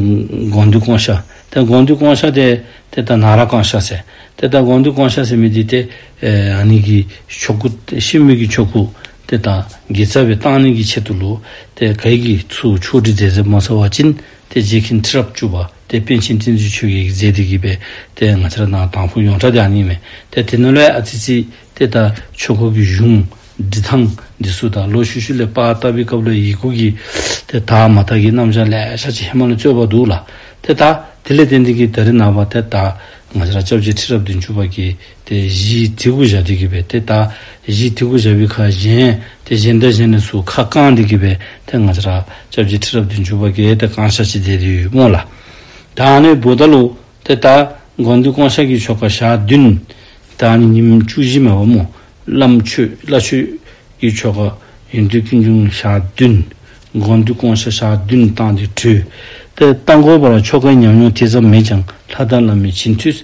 དགོངས་འདུས་བསྐང་བྱ། དེ་དགོངས་འདུས་བསྐང་བྱ་དེ། དེ་ལྟར་ན་ར་བསྐང་བྱ་ཟེར། དེ་ལྟར་དགོངས་འདུས་བསྐང་བྱ་ཟེར་མི་དེ་སྟེ། ནི་གི་ཆོ་གུ། ཤེས་མི་གི་ཆོ་གུ། དེ་དང། དགེ་རྩ་བའི་བཏང་གནས་ཀྱི་ཆེད་དུ་ལོ། དེ་གས་ཀྱི་ཚུལ་ཆོག་དྲི་རྫས་རྫས་མ་ཚ་བ་ཅན། དེ་རྗེས་ཁིན་ཁྲི་རབས་བཅུ་པ་སྟེ་པཎ་ཆེན་བསྟན་འཛིན་ཆོས་ཀྱི་ཡིག་རྩལ་དེ་བགྱིས་པས་དེ་ང་ཚེ་རབས་ནང་དང་ཕུག་ཡོངས་གྲགས་ཀྱང་རྙེད་མེད་དེ་དེ་ནོ་ལའི་ཨ་ཙི་ཙི་སྟེ་ད་ཆོས་འཁོར་གྱི་གཞུང་འབྲི་ཐང་འདི་སུ་དང་ལོ་ཤུ་ཤུ་ལས་པ་ཏཱ་བི་ཀབ་ལོའི་ཡིག་གུ་གི་དེ་དག་མ་དག་གི་རྣམ་བཞག་ལས་ཤར་ཅི་ཧེ་མ་ལ་རྩོད་པ་འདུག་ལ་དེ་དག་དེ་ལས་བསྟན་འཛིན་གྱི་དར་རི་ནང་བ་དེ་དག་ང་ཚེ་རབས་བཅཝ་བཅུའི་ཁྲི་རབས་བདུན་ཅུ་པ་གྱི་དེ་བཞི་ཐིག་གུ་བཞག་འདི་གི་བས་དེ་དག་བཞི་ཐིག་གུ་བཞག་བི་ཁ་གཞན་དེ་གཞན་དག་གཞན་ནས་སུ་ཁ་བསྐང་འདི་གི་བས་དེ་ང་ཅག་ཅག་བཞི་ཁྲི་རབ་དུ་འཇུག་པ་གས་དེ་བསྐང་བཤགས་བྱེད་དེ་དུས་མོ་ལ། དང་ནི་བུ་དག་ལུག་དེ་དག་དགོངས་འདུས་བསྐང་བཤགས་ཀྱི་ཆོ་ག་ཞག་བདུན། དང་ནི་ཉིན་བཅུ་བཞི་མ་བ་མོ་བླ་མཆོད་བླ་མཆོད་ཀྱི་ཆོ་ག་ཡོན་ཏུ་ཀུན་འབྱུང་ཞག་བདུན། དགོངས་འདུས་བསྐང་བཤགས་ཞག་བདུན་བཏང་སྟེ་ཁྲུས་ཏེ་རྟ་འགོ་བ་ལ་ཆོ་གའི་ཉམས་མྱོང་དེ་ཙམ་མེད་ཀྱང་ལྷ་དང་བླ་མའི་བྱིན་མཐུས་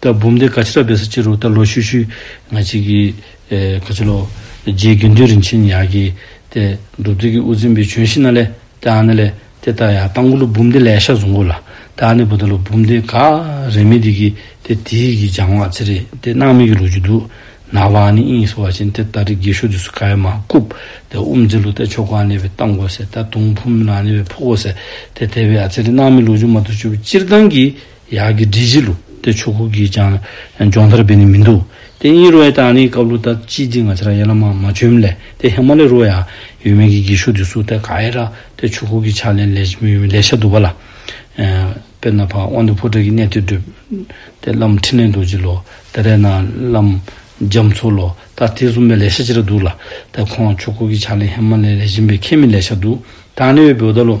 ད་བུམ་བཟླས་ག་ཕྱིར་སྦས་ས་ཅི་རུ་ད་ལོ་ཤུ་ཤུ་ང་ཅིག་གི། ག་ཅི་ལོ། རྗེའི་དགེ་འདུན་རིན་ཆེན་ཡག་གི། ཏེ། སྒྲུབ་རྫས་ཀྱི་དབུ་འཛིན་པའི་བྱོན་ཤི་ན་ལེ། ཏེ་ཨ་ན་ལེ། ཏེ་ད་ཡང་ཏང་གུ་ལུ་བུམ་བཟླས་ལས་ཤ་བཟུང་གོ་ལ། ཏེ་ཨ་ནི་བུ་ད་ལོ་བུམ་བཟླས་ག། རེ་མི་འདི་གི། ཏེ་དེ་ཡི་གི་འཇང་བ་ཚེ་རེ། ཏེ་སྣང་མེད་ཀྱི་ལུགས་ཀྱི་དུག། ན་བ་ཨ་ནི་དབྱིངས་སུ་བ་ཅན་ཏེ་ད་རི་དགེ་ཤོ་དུས་སུ་ག་ཡ་མ་བཀུབ། ཏེ་དབུ་འཛིན་ལུགས་ཏེ་ཕྱོགས་ག་ནས་བའི་ཏང་གོ་སེ་ད་དུང་བུམ་ན་ནས་བའི་ཕོ་གོ་སེ། ཏེ་དེ་བས་ཨ་ཚེ་རི་སྣང་མེད་ལུགས་འཇུག་མ་ཏུ་བཅུ་བཅིར་ལྡང་གི། ཡག་གི་འབྲི་གཞི་ལུགས་དེ་ཆོས་ཁུག་གིས་ཀྱང་སྦྱོང་མཐར་འབེལ་ནི་མི་འདུག་དེ་གཉིས་རོའི་དང་ནི་ཀབ་ལུ་ཏག་ཅི་ཅི་ང་ཅི་ར་ཡེ་ལ་མ་མ་ཅུམ་ལེ་དེ་ཧེ་མ་ལེ་རོ་ཡང་ཡོད་མེད་ཀྱི་འགྱིག་ཤུག་དེ་སུ་ཏེ་ག་ཨེ་ར་དེ་ཆོས་ཁུག་གི་ཕྱག་ལེན་ལས་ལས་ཤ་དུ་བ་ལ། དཔེར་ན་ཕ་དབང་དུ་ཕོ་བྲེག་གི་གནས་དེ་བསྒྲུབ། དེ་བླ་མ་ཕྲིན་ལས་རྡོ་རྗེ་ལོ་དེ་རས་ན་བླ་མ་རྒྱ་མཚོ་ལོ་ད་དེ་གསུམ་པའི་ལས་ཤ་ཅི་ར་འདུག་ལ་དེ་ཁོང་ཆོས་ཁུག་གི་ཕྱག་ལེན་ཧེ་མ་ལེ་ལས་གཞན་པའི་ཁས་མི་ལེ་ཤ་འདུག་ད་ནི་འོད་བུ་ད་ལོ།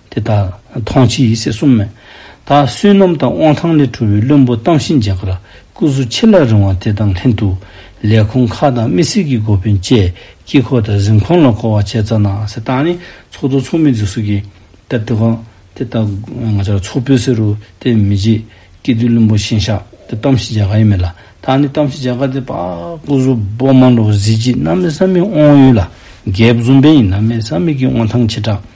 དེ་ལྟར་མཐོང་བྱེད་ཡིད་བྱེད་གསུམ་མེད། ད་བསོད་ནམས་དང་དབང་ཐང་ལས་གྲུབ་པའི་བློན་པོ་རྟ་བཞིན་རྒྱལ་ཁར་སྐུ་གཟུགས་ཆེ་ལ་རིང་བ་དེ་དང་ལྷན་དུ། ལས་ཁུངས་ཁག་དང་དམིགས་བསལ་གྱི་སྒོ་དཔོན་བཅས་དཀྱིལ་འཁོར་དང་གཟིམ་ཁང་ལ་སྐོར་བ་བྱས་ཙང་ན། ཟེར་སྟངས་ནི་ཚོགས་གཙོ་ཚོགས་མི་འཛུགས་སྲོལ་གྱི་སྟབས་དེ་གོ། དེ་ལྟ་ང་ཅག་ཚོགས་དཔོན་ཟེར་རོ་དེ་མི་བྱེད། སྐྱིད་སྡུག་བློན་པོ་གཤེན་ཤག་དེ་རྟ་བཞིན་རྒྱལ་ཁ་ཡིན་མོད་ལ། ད་ནི་རྟ་བཞིན་རྒྱལ་ཁ་དེ་པཱ། སྐུ་གཟུགས་པོ་དམར་ལོ་གཟི་བརྗིད་རྣམ་སྨིན་བསམ་མེད་དབང་ཡོད་ལ། སྒལ་བཟུང་བན་ཡིན་རྣམ་སྨིན་བསམ་མེད་ཀྱི་དབང་ཐང་ཆེ་དྲགས།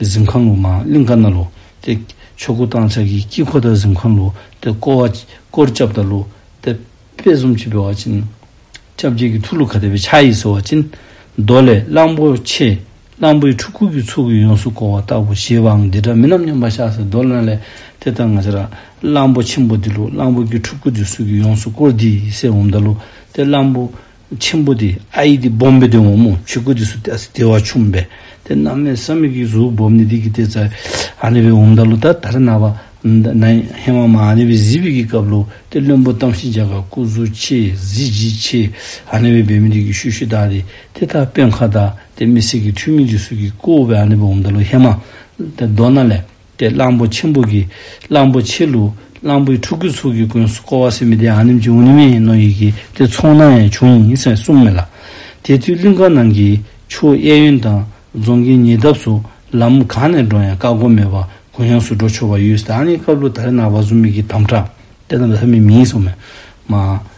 གཟིམས་ཁང་ལོ་མ་གླིང་ཀ་ན་ལོ་སྟེ། ཆོས་སྐུ་བཏང་ཕྱག་གི་དཀྱིལ་འཁོར་དང་གཟིམས་ཁང་ལོ་སྟེ་བསྐོར་བ། བསྐོར་བཅབས་དང་ལོ་སྟེ། དཔལ་གསུམ་གྱིས་སྤེལ་བ་བྱིན། བཅབས་རྒྱས་ཀྱི་ཐུགས་ལྷུ་ག་དད་པའི་ཕྱག་ཡིས་གསོལ་བ་བྱིན། མདོ་ལས། གླང་པོ་ཆེ། གླང་པོའི་ཕྲུ་གུ་ཀྱི་ཚུལ་གྱིས་ཡོངས་སུ་བསྐོར་བ་ལྟ་བུ་ཞེས་པའང་འདི་འདྲ་མིན་ནམ་སྙམ་པ་ཤཱ་ཟའི་མདོ་ལས། དེ་ལྟར་ང་ཅི་ར། གླང་པོ་ཆེན་པོ་འདི་ལོ་གླང་པོ་ཀྱི་ཕྲུ་གུ་ཀྱི་ཚུལ་གྱིས་ཡོངས་སུ་བསྐོར་འདི་ཡི་སྲས་འོ་མདའ་ལོ་སྟེ་གླང་པོ། ཆེན་པོ་དེ་ཨ་ཡིག་དེ་སྦོམ་པའི་དོན་ངོ་མོ་ཆོས་སྐུ་དེ་སུ་སྟེ་ཨ་སི་དེ་བ་ཆུང་བས་དེ་རྣམས་ནི་བསམ་མི་ཁྱིའི་གཟུགས་སྦོམ་ནི་དེ་ཀྱི་སྟེ་ཙཱ་ཨ་ནི་བའི་འོམ་དག་ལུ་ད་ལྟར་ན་བ་ན་ཧེ་མ་མ་ཨ་ནི་བའི་གཟི་བིག་གི་སྐབས་ལུ་དེ་བློན་པོ་གཏམ་ཤིང་བྱ་ག་སྐུ་གཟུ་ཆེ་གཟི་བརྗིད་ཆེ་ཨ་ནི་བའི་བེ་མི་དེ་ཀྱི་ཤུ་ཤུ་དག་དེ་དེ་དག་དཔོན་ཁ་དག་དེ་མི་སེར་གྱི་འཁྲུལ་མིན་གྱི་གཟུགས་ཀྱི་སྐུ་བོ་བས་ཨ་ནི་བའི་འོམ་དག་ལུ་ཧེ་མ་ད་མདོ་ན་ལས། ཏེ་གླང་པོ་ཆེན་པོ་གི་གླང་པོ་ཆེ་ལུགས་གླང་པོའི་ཕྲུ་གུའི་ཚུལ་གྱི་དགོན་སུ་ཀོ་བ་སི་མི་ཏའི་ཨ་ནེམ་ཅི་འུ་ནི་མེ་ཡིན་ནོ་ཡིག་གི་དེ་མཚུངས་ན་ཡང་བྱུང་ཡིན་ཟེར་གསུངས་མེད་ལ། དེ་དུས་གླིང་ཁ་ནང་གི་ཆུ་བོ་གཡས་གཡོན་དང་རྫོང་གི་ཉེ་འདབས་སུ་ལམ་གང་ནས་འགྲོ་ཡང་བཀག་སྒོ་མེད་པར་གུ་ཡངས་སུ་འགྲོ་ཆོག་པ་ཡོད་སྟེ་ཨ་ནེའི་སྐབས་ལུགས་ད་རེ་ན་བ་ཟུ་མིག་གི་དམ་བསྒྲགས་དེ་རྣམས་ལྷ་མི་མིན་སོགས་མེད། མ།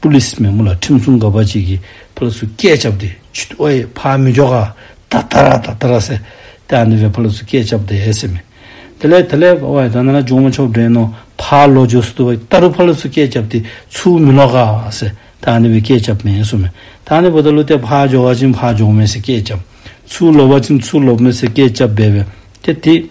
པུ་ལི་སི་མེ་མོ་ལ་ཁྲིམས་སྲུང་ག་པར་བྱེད་ཀྱི་བུ་ལ་སུ་སྐད་ཆབ་དེ་ཆུ་དོ་ཨེ་ཕ་མི་འཇོ་ག་ད་ད་ར་ད་ད་ར་སེ་དེ་ཨ་ནི་བའི་བུ་ལ་སུ་སྐད་ཆབ་དེ་ཨེ་སེ་མེ་དེ་ལེ་དེ་ལེ་བ་ཨེ་ད་ན་ན་ཇོ་མོ་ཆོབ་དྲེན་ནོ་ཕ་ལོ་ཇོ་སུ་དུ་བ་ད་རུ་བུ་ལ་སུ་སྐད་ཆབ་དེ་ཆུ་མི་ལོ་ག་སེ་དེ་ཨ་ནི་བའི་སྐད་ཆབ་མེ་སུ་མེ་དེ་ཨ་ནི་བུ་ད་ལུ་དེ་ཕ་ཇོ་བ་ཅིན་ཕ་ཇོ་མེ་སེ་སྐད་ཆབ་ཆུ་ལོ་བ་ཅིན་ཆུ་ལོ་མེ་སེ་སྐད་ཆབ་བེ་བེ་དེ་དེ།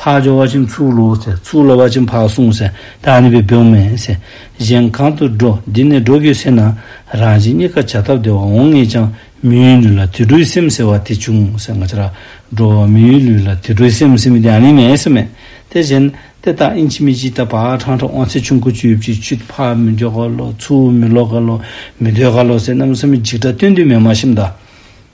འཕགས་ཀྱི་བ་ཅིང་ཚུགས་ལུགས་ཟེར་ཚུགས་ལ་བ་ཅིང་འཕགས་གསུངས་ཟེར་བདག་ནི་བི་བེའུ་མེན་ཟེར་གཞན་གང་དུ་འགྲོ་འདི་ནས་འགྲོ་གི་ཟེར་ན་རང་གཅིག་གཉིས་ཀ་བྱ་ཐབས་བདེ་བ་འོང་ངེས་ཀྱང་མིའུའི་ལུས་ལ་དུད་འགྲོའི་སེམས་ཟེར་བ་དེ་བྱུང་ཟེར་ང་ཅི་ར་འགྲོ་བ་མིའུའི་ལུས་ལ་དུད་འགྲོའི་སེམས་སེམས་དེ་ནི་མེད་ཟེར་མེད་དེ་བཞིན་ཏེ་བདག་ཨིན་ཆི་མི་ཅི་ད་བ་ཁྲང་ཁྲ་ཨོང་ཚེ་ཆུང་ཁུ་བཅུ་བཅུ་བཅུད་འཕགས་མི་འཇོག་ག་ལོ་ཚུགས་མི་ལོག་ག་ལོ་མི་སྡོད་ག་ལོ་ཟེར་རྣམ་གསུམ་འཇིགས་སྐྲག་སྟོན་དུས་མེད་མ་ཤི་མདའ།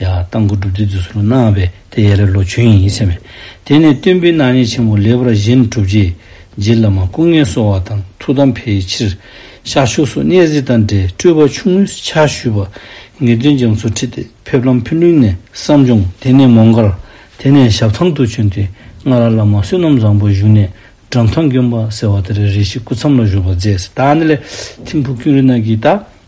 ཡ། དང་པོ་སྒྲུབ་སྡེ་བསྡུས་སུ་ལོ་ན་བས་དེ་ཡས་རེ་ལོ་བྱོན་ཡིན་ཡིད་ཆེས་མེད། དེ་ནས་སྟོན་པའི་སྣང་བརྙན་ཆེན་པོ་ལེགས་པར་བཞེངས་གྲུབ་རྗེས། རྗེ་བླ་མ་སྐུ་ངལ་གསོ་བ་དང་ཐུགས་དམ་འཕེལ་ཕྱིར། ཤར་ཕྱོགས་སུ་གནས་གཟིགས་དང་འབྲེལ་སྤྲུལ་པ་ཆུང་ངུས་ཕྱག་ཞུས་པ། ངེས་དོན་སྦྱང་ཚུལ་ཁྲིད་དེ་ཕེབས་ལམ་ཕུ་ནུའི་གནས་སམ་ལྗོངས་དེ་ནས་མོང་མཁར། དེ་ནས་ཞབས་ཐང་དུ་བྱོན་ཏེ་སྔ་ར་བླ་མ་བསོད་ནམས་བཟང་པོ་བཞུགས་གནས་གྲམ་ཐང་གྱོན་པ་ཟེར་བ་དེར་རེ་ཞིག་སྐུ་མཚམས་ལ་བཞུགས་པ་མཛད། ད་ནི་ལས་ཐིམ་བུ་སྐྱོན་རི་ནག་གིས་བཏགས།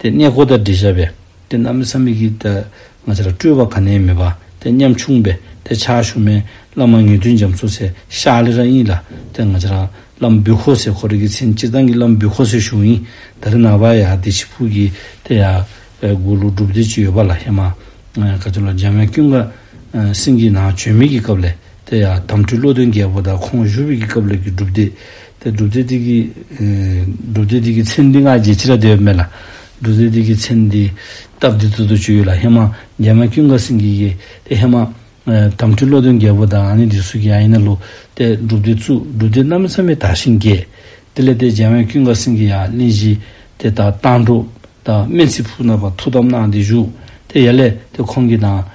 དེ་གནས་སྒོ་དང་འབྲེལ་བྱ་བས། དེ་རྣམས་མི་ཚ་མི་སྐྱིད་དང། ང་ཅི་ལ་སྤྲོས་པ་ག་ནས་མེད་པ། དེ་སྙམ་ཕྱུང་བས་དེ་ཕྱག་ཞུ་མས། བླ་མ་ངེས་དོན་འཇམ་བཟོ་སའི་ཤཱ་ལི་ར་ཨིན་ལ། དེ་ང་ཅི་རང། བླ་མ་བུ་ཁོ་སའི་ཁོ་རེ་གི་མཚན་སྤྱིར་བཏང་གི་བླ་མ་བུ་ཁོ་སའི་གཞུང་ཡིན། ད་རེ་ནང་པ་ཡང་བདེ་ཕྱི་ཕུགས་ཀྱི་དེ་ཡང། དགུ་ལུགས་སྒྲུབ་སྡེ་གཅིག་ཡོད་པ་ལ་ཧེ་མ། ག་ཚོད་ལ་འཇམ་དབྱངས་ཀུན་དགའ། སེམས་ཀྱི་ནང་བྱོན་མི་ཀྱི་སྐབས་ལས། དེ་ཡང་དམ་འཁྲུལ་བློ་དོན་རྒྱལ་པོ་དང་ཁོང་བཞུགས་དབུས་ཀྱི་སྐབས་ལུགས་ཀྱི་སྒྲུབ་སྡེ། དེ་སྒྲུབ་སྡེ་སྟེགས་ཀྱི། སྒྲུབ་སྡེ་སྟེགས་ཀྱི་མཚན་འདི་སྔ་རྗེས་ཕྱི་རབས་དེ་བས་མེད་ལ། སྒྲུབ་སྡེ་སྟེགས་ཀྱི་མཚན་འདི། སྟབས་བདེ་ཚུལ་དུ་བྱུས་ཡོད་ལ་ཧེ་མ། རྒྱལ་མ་ཀུན་དགའ་སེང་གེ་ཡིས། དེ་ཧེ་མ། དམ་འཁྲུལ་བློ་དོན་རྒྱལ་པོ་དང་ནི་འདི་སུ་ཡང་ཡིན་ན་ལུགས། དེ་སྒྲུབ་སྡེ་བཙུགས། སྒྲུབ་སྡེ་གནའ་མི་ཚང་མས་དག་ཞིང་རྒྱས། དེ་ལས་དེ་རྒྱལ་མ་ཀུན་དགའ་སེང་གེ་ཡང་གླིང་བཞི། དེ་དག་དང་འགྲོ། དང་སྨན་ཚིག་ཕུག་ནག་པ་ཐུགས་དམ་གནང་སྟེ་བཞུགས། དེ་ཡལ་ལས། དེ་ཁོང་གི་དང།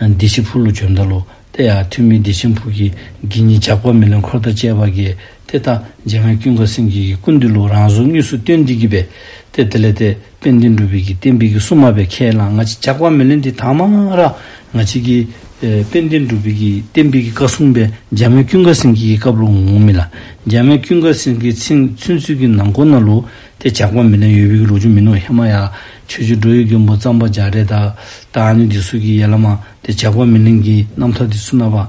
བདེ་ཆེན་ཕུག་ལོ་བྱོན་ད་ལོ། དེ་ཡང་ཐུན་མིན་བདེ་ཆེན་ཕུག་གི་དགེ་བསྙེན་ཇག་པ་མི་ལོན་འཁོར་དང་བཅས་པ་དགེ། དེ་ལྟ་རྗེ་རྔ་ཀུན་དགའ་སེང་གེ་ཡིས་ཀུན་འདུས་ལུགས་རང་གཟུགས་དངོས་སུ་སྟོན་འདི་གྱིས་པས། དེ་དེ་ལས་དེད་དཔོན་བསྟན་འགྲོ་བི་གིས་བསྟན་དཔེ་གི་སྲུང་མ་བས་ཁས་བླངས་ང་ཅི་ཇག་པ་མི་ལོན་འདི་དག་མ་མངག་ར། ང་ཅི་གིས། དཔོན་བསྟན་འགྲོ་བི་གིས་བསྟན་དཔེ་གི་བཀའ་སྲུང་པས་རྗེ་རྔ་ཀུན་དགའ་སེང་གེ་ཀྱི་བཀའ་བློ་ངོ་མི་ལ། རྗེ་རྔ་ཀུན་དགའ་སེང་གེ་ཚུན་ཚུད་ཀྱི་ནང་སྐོར་ན་ལུགས་དེ་ཇག་པ་མི་ནག་ཡོད་བིག་རོ་ཆུ་མི་ནོར་ཧེ་མ་ཡ། ཆོས་རྗེ་འགྲོ་ཡི་རྒན་པོ་གཙང་པ་ཇག་རེད་ད། ད་ཨ་ནི་འདི་སུ་གི་ཡལ་ལ་མ། དེ་ཇག་པ་མི་ནག་གི་རྣམ་ཐར་དེ་སུ་ན་བ།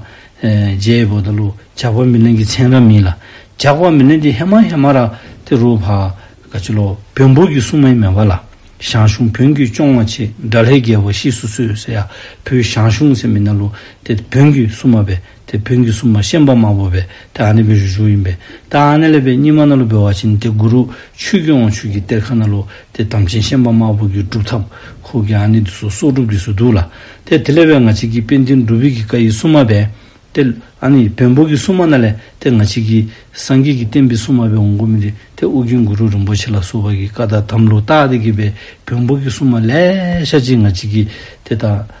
རྗེ་ཡི་བོ་ད་ལུ། ཇག་པ་མི་ནག་གི་མཚན་ར་མིན་ལ། ཇག་པ་མི་ནག་དེ་ཧེ་མ་ཧེ་མ་ར། དེ་རུ་བ། ག་ཆུ་ལོ། བོན་པོ་གི་སྲུང་མའི་མེ་བ་ལ། ཞང་ཞུང་བོན་གྱི་སྐྱོང་བ་ཆེ། དགྲ་ལྷའི་རྒྱལ་པོ་གཤེགས་སུ་གསོལ། ཟེ་ཡ། བུ་ཞང་ཞུང་ཟེ་མི་ན་ལུ། དེ་བོན་གྱི་སྲུང་མ་བས། དེ་བོན་གྱི་སྲུང་མ་གཤེན་པ་མ་བོ་བས་དེ་ཨ་ནེ་བོན་རིན་ཆུང་ཡིན་པས་ད་ཨ་ནེ་ལེ་བའི་སྙིང་མ་ན་ལོ་བོད་བ་ཆེན་དེ་གུ་རུ་ཆོས་ཀྱི་དབང་ཕྱུག་གི་གཏེར་ཁ་ན་ལོ་དེ་དམ་ཅན་གཤེན་པ་མ་བོ་གི་སྒྲུབ་ཐབས་ཁོག་གི་ཨ་ནེ་འདི་སོ་སོག་སྒྲུབ་ཀྱི་སུ་འདུག་ལ་དེ་དེ་ལེ་བའི་ང་ཅིག་གི་དཔལ་ལྡན་སྒྲུབ་བོད་ཀྱི་བཀའ་ཡི་སྲུང་མ་བས་དེ་ཨ་ནེ་བོན་བོ་གི་སྲུང་མ་ན་ལེ་དེ་ང་ཅིག་གི་སངས་རྒྱས་ཀྱི་བསྟན་པའི་སྲུང་མ་བས་འོང་གི་མི་རིགས་དེ་ཨོ་རྒྱན་གུ་རུ་རིན་པོ་ཆེ་ལ་སོགས་པ་གི་བཀའ་དང་དམ་ལུགས་ཏག་ཏིག་གི་བས་བོན་བོ་གི་སྲུང་མ་ལེ་ཤ་ཅིག་ང་ཅིག་གི་དེ་དང།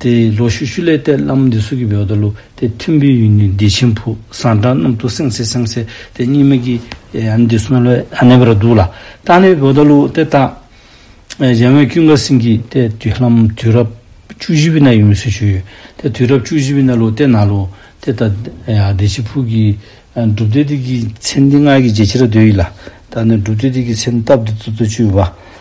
དེ་ཡི་ལོ་ཤུ་ཤུ་ལས་གཏད་བླ་མ་འདི་སུ་གི་བོད་དུ་ལུ་དེ་མཐུན་པོའི་ཡུལ་ནི་བདེ་ཆེན་ཕུག་བཟང་བྲག་རྣམས་དུ་སེང་སེ་སེང་སེ་དེ་སྙེད་མི་གི་ཡང་འདི་སུ་ལོ་ཨ་ནེ་བར་འདུག་ལ་ད་ནི་བོད་དུ་ལུ་དེ་བཏགས། རྒྱལ་བོན་ཀུན་དགའ་སེང་གིས་གཏད་དུས་ལྷ་མོ་དུས་རབས་བཅུ་བཞི་པའི་ན་ཡོད་མི་སུ་བྱོན་ཡོད་དེ་དུས་རབས་བཅུ་བཞི་པའི་ན་ལུ་དེ་ན་ལུ་དེ་ད་བདེ་ཆེན་ཕུག་གི་སྒྲུབ་སྡེ་དེ་གི་མཚན་འདི་སྔགས་ཀྱི་རྗེ་ཁྱི་ར་རྡོས་ཡིན་ལ་ད་ནི་སྒྲུབ་སྡེ་དེ་གི་མཚན་སྟབས་འདི་ཙོ་ཙོ་བཅུ་བ།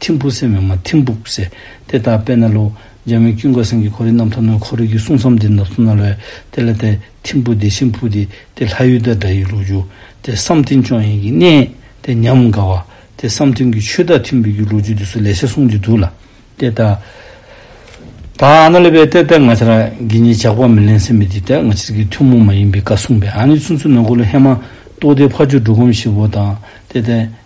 ཐིམ་ཕུག་སེ་མེ་མ་ཐིམ་ཕུག་སེ། དེ་ལྟར་དཔལ་ནཱ་ལོའི་རྒྱལ་མོས་དཀྱིལ་འཁོར་སེང་གེ་འཁོར་རིགས་རྣམ་ཐོ་ནོན་འཁོར་རིགས་ཀྱི་སྲུང་མཚམས་འདི་ནགས་སུ་ན་ལོའི་དེ་ལ་དེ་ཐིམ་ཕུག་དེ་ཤིང་ཕུག་དེ་དེ་ལྷ་ཡུལ་དེ་དགྲ་ཡི་ལུག་ཆུ་དེ་བསམ་ཐིམ་ཆོས་དབྱིངས་ཀྱི་གནས་དེ་ཉམས་དགའ་བ་དེ་བསམ་ཐིམ་གྱི་ཆོས་བདག་ཐིམ་བུ་གྱི་ལུག་ཆུ་དེ་སུ་ལས་བྱས་གསུངས་ཀྱི་འདུག་ལ། དེ་ལྟ། ད་ཨ་ན་ལི་པའི་གཏེར་དེ་ང་ཆར་གྱི་ནི་ཇག་པ་མི་ལེན་སེམས་མི་དེ་དེ་ང་ཆར་གྱི་ཐུན་མོང་མ་ཡིན་པའི་བཀའ་གསུངས་པས་ཨ་ནི་ཆུ་མཚོ་ནོན་འཁོར་ལོ་ཧེ་མ་ཏོག་དེ་ཕ་ཆུ་འབྲུག་སྒོམ་བཞི་བོ་དང་དེ་དེ།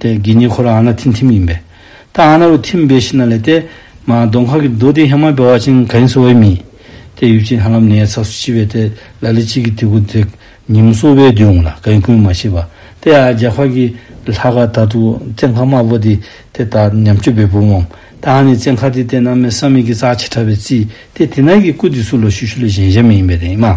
དེ་དགེ་བསྙེན་ཁོ་རང་ཨ་ན་ཐིན་ཐིམ་ཡིན་པས། ད་ཨ་ན་རུ་ཐིམ་པའི་ཤི་ན་ལས་ཏེ། མ་རྡོ་མཁར་གྱི་རྡོ་དེ་ཧེ་མ་བེ་བ་ཅིང་ག་ཡིན་སོ་བའི་མིས། དེ་ཡུལ་གྱི་ཧ་ལམ་ནའི་ཚགས་སུ་ཕྱི་བས་ཏེ་ལ་ལི་གཅིག་གི་ཐི་གུ་དེ་ཉིམ་སོ་བའི་དུས་འོང་ལ་ག་ཡིན་ཀུན་མ་ཤེས་པ། དེ་ཨ་རྒྱ་མཁར་གྱི་ལྷ་ག་ད་དུ་བཙན་མཁར་དམར་པོ་དེ་དེ་ད་ཉམས་སྐྱོ་བའི་བུ་འོང། ད་ཨ་ནི་བཙན་མཁར་དེ་དེ་ན་མེ་བསམ་མེད་ཀྱི་རྩ་ཆེ་ཕྲ་བའི་རྩིས་ཏེ་དེ་ན་གི་སྐུ་དེ་སུ་ལ་ཞུ་ཞུ་ལ་གཞན་གཞན་མི་ཡིན་པས་རེད་མ།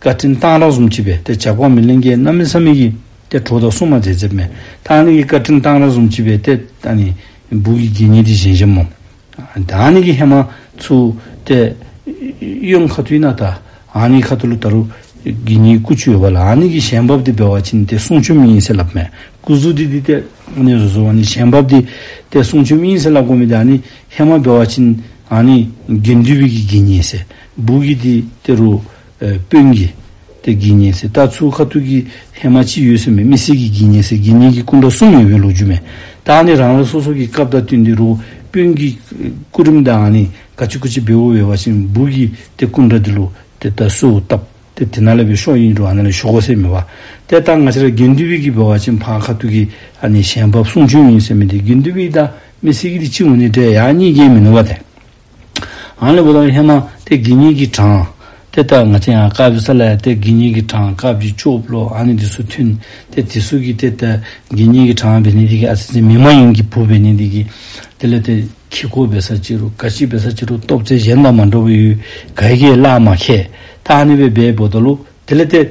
བཀའ་དྲིན་བཏང་རག་གསུམ་བྱིས་པས་དེ་བྱ་ཁོག་མི་ལིང་ཀའི་སྣ་མི་ས་མི་གི། དེ་གྲོ་དང་སྲུང་མ་མཛད་ཚེ་མེད་ཐང་ནི་གི་བཀའ་དྲིན་བཏང་རག་གསུམ་བྱིས་པས་དེ། ད་ནི་སྦུག་གི་དགེ་བསྙེན་དྲི་བཞེན་ཆེན་མོ། ད་ནི་གི་ཧེ་མ་ཚུ། དེ། གཡོན་ཁ་ཐུའི་ནཱ་ད། ཨཱ་ནི་ཁ་ཐུ་ལུ་ད་རུ། གི་ནི་སྐུ་ཆུ་ཡོད་པ་ལ་ཨཱ་ནི་གི་ཞལ་འབབ་དེ་སྦལ་བ་ཅིན་དེ་གསུང་ཆོས་མི་ཡིན་སེ་ལབ་མེད་སྐུ་གཟུགས་དེ་དེ་དེ། ཨཱ་ནི་རུ་ཟོ་བ་ནི་ཞལ་འབབ་དེ། དེ་གསུང་ཆོས་མི་ཡིན་སེ་ལ་སྒོ་མི་དེ་ཨཱ་ནི་ཧེ་མ་སྦལ་བ་ཅིན། ཨཱ་ནི། དགེ་འདུས་བི་གི་དགེ་བསྙེན་སེ། སྦུག་གི་དེ་དེ་རུ། དཔོན་གྱིས། དེ་དགེ་བསྙེན་སའི་རྟ་ཚུགས་ཁ་ཐུག་གི་ལྷས་མ་ཅི་ཡོད་སེམས་པའི་མི་སེར་གྱིས་དགེ་བསྙེན་སའི་དགེ་བསྙེན་གྱི་སྐུ་འདྲ་གསུམ་ཡོད་པའི་ལོ་རྒྱུས་མེད། དག་ནི་རང་རེ་སོ་སོ་གི་སྐབས་རྟ་བཏོན་དེ་རུ་དཔོན་གྱིས། སྐུ་རིམ་དང་ནི་ག་ཅི་ཀུ་ཅི་བེ་བོ་བེ་བ་བཞིན་འབུར་གྱིས་དེ་སྐུ་འདྲ་དེ་ལུག་དེ་ད་སུའོ་བཏབ། དེ་དེ་ན་ལས་པའི་ཤོག་ཡིན་འགྲོ་བ་ན་ལས་ཤོག་གོ་སའི་མི་བ། དེ་ལྟར་ང་ཅི་ར་དགེ་འདུན་བི་གིས་བེ་བ་ཅན་འཕང་ཁ་ཐུག་གི་ཨ་ནི་གཞན་བབས་གསུང་བྱོན་ཡིན་སེམས་པའི་དེ་དགེ་འདུན་བི་དང་མི་སེར་གྱི་དེ་གཅིག་ངོ་ནི་འདྲའི་ཡག་གཉིས་རྒྱན་མི་ནུ་བ་དེ། ཨང་ལས་བུ་ལོན་ཧེ་མ་སྟེ་དགེ་བསྙེན་གྱི་གྲངས། དེ་ལྟར་ང་ཅན་ཡང་བཀའ་བརྒྱུད་ས་ལ་ཡ་སྟེ་དགེ་བསྙེན་གྱི་གྲངས་བཀའ་བརྒྱུད་བཅུ་བོ་ལོ་ཨ་ནི་འདི་སུ་མཐུན། དེ་དེ་སུ་གི་དེ་ལྟར་དགེ་བསྙེན་གྱི་གྲངས་བེ་ནི་ཏི་གི་ཨ་ཙི་ཙི་མི་མ་ཡིན་གྱི་བུ་བེ་ནི་ཏི་གི། དེ་ལས་དེ་ཁྱི་སྒོ་བེ་ས་ཅི་རུ་ཀ་ཤི་བེ་ས་ཅི་རུ་སྟོབས་རྩལ་གཞན་དང་མ་འགྲོ་བའི་ཡུལ་ག་ཡི་ཀའི་བླ་མ་ཁྱེད་ད་ཨ་ནི་བེ་བེ་བོ་ད་ལུ་དེ་ལས་དེ།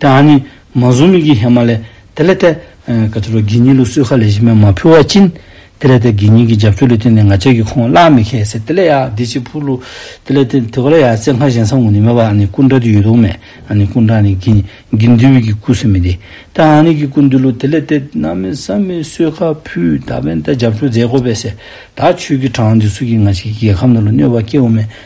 དེ་ཨ་ནི་མ་ཟུང་མིག་གི་ཧེ་མ་ལའི། དེ་ལས་ཏེ། ག་ཚོད་རོ་གིས་ཉིད་ལུགས་གསོལ་ཁ་ལས་བཞི་མས་མ་ཕུལ་བ་བཅིན། དེ་ལས་ཏེ་གིས་ཉིད་ཀྱི་རྒྱབ་ཆོས་ལུས་སྟེང་ནས་ང་ཅག་གིས་ཁོང་གླགས་མི་ཁེགས་ཟེར་དེ་ལས་ཡང་འདི་ཅིག་ཕུལ། དེ་ལས་ཏེ་དེ་ག་ལ་ཡང་རྩེ་སྔགས་གཞན་བསམ་ངོ་ནི་མེད་པ་ཨ་ནི་སྐུ་འདྲ་དུ་ཡོད་དོགས་མེད་ཨ་ནི་སྐུ་འདྲ་ནི་གིས་གིས་འདུལ་བའི་གི་སྐུ་སེམས་མི་དེ། དེ་ཨ་ནི་གི་སྐུ་འདུལ་ལོ་དེ་ལས་ཏེ་ན་མི་ས་མས་གསོལ་ཁ་ཕུལ་ད་བན་ཏེ་རྒྱབ་ཆོས་མཛད་དགོས་པས་ཟེར་ད་ཆོས་ཀྱི་གྲངས་འདི་སུ་གིས་ང་ཅག་གི་རྒྱལ་ཁམས་འདི་ལ་གནོད་པ་སྐྱེ་འོ་མེད་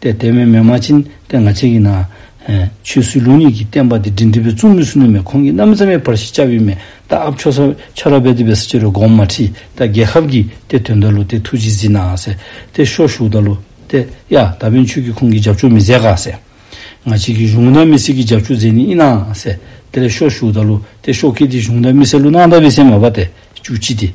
ཏེ་དེ་བས་མེ་མ་ཕྱིན་ཏེ་ང་ཅག་གིས་ན། ཆོས་སྲིད་ལུགས་གཉིས་ཀྱི་བསྟན་པ་འདི་འབྲིང་འདི་བས་བཙུན་མོའི་སྲུ་ནུ་མས་ཁོང་གི་རྣམ་མཚན་མའི་བར་ཞིག་བཅའ་བའི་མེ་སྟག་ཨབ་ཆོས་སར་ཕྱ་ར་བས་དེ་བས་སུ་ཅི་རུ་སྒོམ་མ་ཁྲིད་ད་རྒྱལ་ཁབ་ཀྱིས་ཏེ་དོན་ད་ལུ་ཏེ་ཐུགས་རྗེས་གཟིགས་ནའང་ཟེར་ཏེ་ཤོག་བཞུགས་ད་ལུ་ཏེ་ཡ་ད་བས་མཆོད་ཀྱིས་ཁོང་གི་རྒྱབ་ཆོག་མི་མཛད་ག་ཟེར། ང་ཅག་གིས་གཞུང་ད་མི་སྲིད་ཀྱི་རྒྱབ་ཆོག་མཛད་ནི་ཨི་ནའང་ཟེར་དེ་ལས་ཤོག་བཞུགས་ད་ལུ་ཏེ་ཤོག་ཁེ་དེ་གཞུང་ད་མི་སྲིད་ལུ་ནའང་ད་བས་སེམས་མ་བ་ཏེ་བཅུ་གཅིག་སྟེ།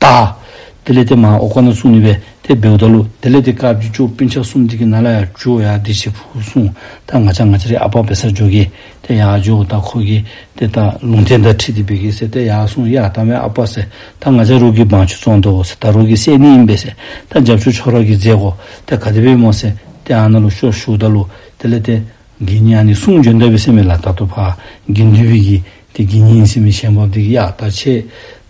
བལྟ། དེ་ལས་དེ་མ་ཨོ་ཀ་ན་སུ་ནི་བས་དེ་བེའུ་བལྟ་ལུ། དེ་ལས་དེ་ཀ་བཅུ་བཅུ་པི་འཆག་སུམ་དེ་གི་ན་ལ་ཡ་ཇུ་ཨོ་ཡ་དེ་ཞེས་བུ་གསུང། ད་ང་ཆ་ང་ཆ་རེ་ཨ་པའོ་བེ་སར་འཇོག་གི། དེ་ཡ་ཇུ་ཨོ་བལྟ་ཁོ་གི། དེ་བལྟ་ལུང་དེ་འདྲ་ཁྲིད་དེ་བེ་གི་ཟེར་དེ་ཡ་གསུང་ཡ་ད་མའི་ཨ་པའོ་ཟེར། ད་ང་ཆ་རུག་གི་བང་ཆུ་བཙོང་འདོ་ཟེར་ད་རུག་གི་སད་ནི་ཨིན་བེ་ཟེར། ད་འཇབ་ཆུ་ཆོ་ར་གི་རྫས་གོ། དེ་ག་དེ་བེ་མོ་ཟེར། དེ་ཨ་ན་ལུ་ཤོ་ཤུག་བལྟ་ལུ། དེ་ལས་དེ། དགེ་བསྙེན་ནི་གསུང་བྱོན་ཟླ་བའི་སེམས་མེད་ལ་དྭགས་ཐུབ་ཕ། དགེ་འདུན་བི་ཡི། དེ་དགེ་བསྙེན་སེམས་མེད་ཤེས་འབབ་དེ་གཡག་རྟ་ཆེ།